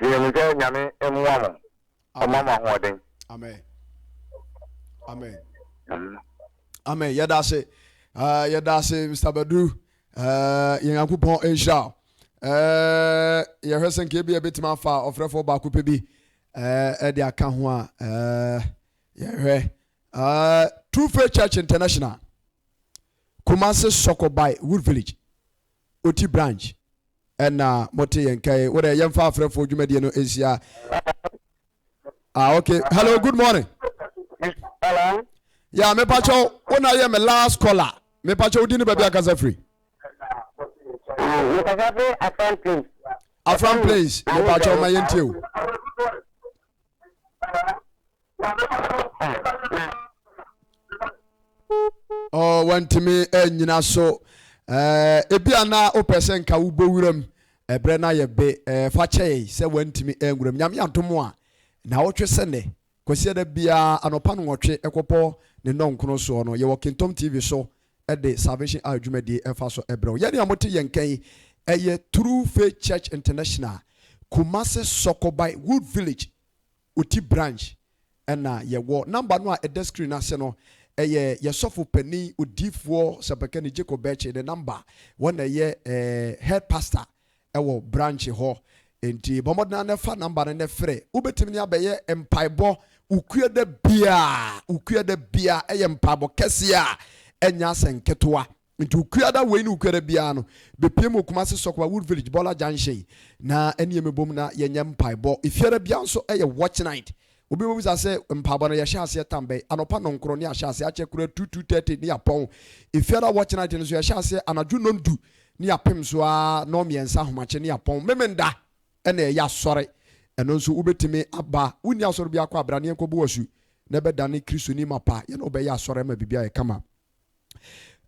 Deɛ mi sɛ nyame mmoa mo, ɔma mo ahoɔden. Amen. Amen. Amen. Amen. Yɛda ase. Uh, yɛda ase Mr. Badu. Uh, yɛn Nyankopɔn nhyira wo. Uh, yɛhwɛ sɛ nka ebi a ebetumi afa ɔfrɛfoɔ baako pɛ bi uh, de aka ho a uh, yɛhwɛ uh, True Faith Church International Kumasi Sɔkɔbae Wood Village ɔti branch ɛna mote yɛn nka yi wodɛ yɛmfa afrɛfoɔ dwumadie no nhyia ah okay hello good morning hello ya mepakyɛ wo na yɛ me last caller mepakyɛ wodi ne baabi akasa firi afran plains mepakyɛ wo ma yɛntie o Oh, wantumi anyina eh, so eh, ebi a na wopɛ sɛ nka wobɔ wuram ɛberɛ no ayɛ be eh, fa kyɛe sɛ wantumi anwuram nyame adom a na wotwe sɛ nnɛ kwasiada biara anɔpa no nwɔtwe ɛkɔpɔ ne nnɔnkono soɔ no yɛwɔ kentɔm tv so de Salvation Army dwumadie fa so brɛ wo. Yɛn a mote yɛn nka yi, ɛyɛ True Faith Church International, Kumasi Sɔkobae Wood Village, Oti Branch na yɛwɔ. Number no a ɛda screen no ase no, ɛyɛ yɛn Sɔfo Panin, Odiyifoɔ Sɛmpakani Jacob Bɛɛkye ne number. Wɔn na ɛyɛ Head Pastor wɔ branch hɔ nti bɔ mmɔden ara na fa number no na frɛ. Wobɛtumi ne abɛyɛ mpaebɔ wo kue da biara. Wo kue da biara ɛyɛ mpaebɔ kɛseɛ a ɛnyɛ asɛ nketewa. Nti wo kue da wei ne wo kue da biara no bɛpie mu wɔ Kumasi Sɔkwa Wood Village Bɔla Junction na ɛne yɛn mmɛbom na yɛnyɛ mpaebɔ. Efiada biara nso ɛyɛ watch night Obi bebisa sɛ, Mpaabɔ no yɛhyɛ aseɛ tam bɛn? Anɔpa nɔnkron ne yɛahyɛ aseɛ, akyɛ koraa two, two thirty ne yɛapɔn. Efiada a wɔkyena agye no nso yɛhyɛ aseɛ anadwo nnɔndu ne yɛapem so ara nnɔnmiɛnsa ahomakye ne yɛapɔn. Memenda na yɛyɛ asɔre. Ɛno nso wobetumi aba. Wonni asɔre biara kɔ a, bra ne yɛnkɔbɔ wo asu na bɛdane Kristoni mapa, yɛne wo bɛyɛ asɔre ama biribiara ayɛ kama.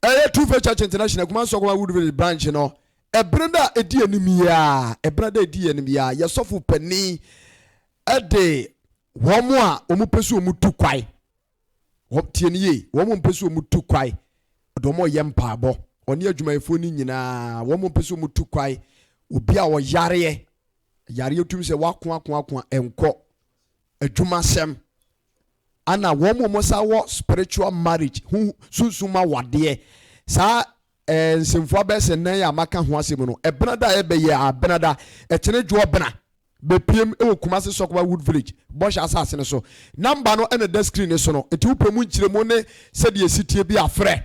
ɛyɛ True Faith Church International Kumasi Nsɔkɔma Woodvillage branch no ɛbere da a ɛdi anim yi a ɛbere da a ɛdi anim yi a yɛ sɔfo panin ɛde wɔn a wɔn pɛ so wɔn tu kwae wɔn tie ne yie wɔn a wɔn pɛ so wɔn tu kwae ɔde wɔn yɛ mpaabɔ ɔne adwumayɛfoɔ no nyinaa wɔn a wɔn pɛ so wɔn tu kwae obi a ɔyareɛ yareɛ tum sɛ wakoakoakoa ɛnkɔ adwumasɛm ana wɔn mu wɔn sa wɔ spiritual marriage ho sunsum awadeɛ saa ɛɛ nsɛmfua bɛyɛ sɛ nan a maka ho asɛm no ɛbena da a ɛbɛyɛ a bena da ɛtene dwoɔ bena bɛpiem wɔ Kumasi Sɔkɔba Wood Village bɔhyɛ asase no so namba no ɛna da screen no so no nti wopɛ mu nkyerɛmu ne sɛdeɛ ɛsitie bi a frɛ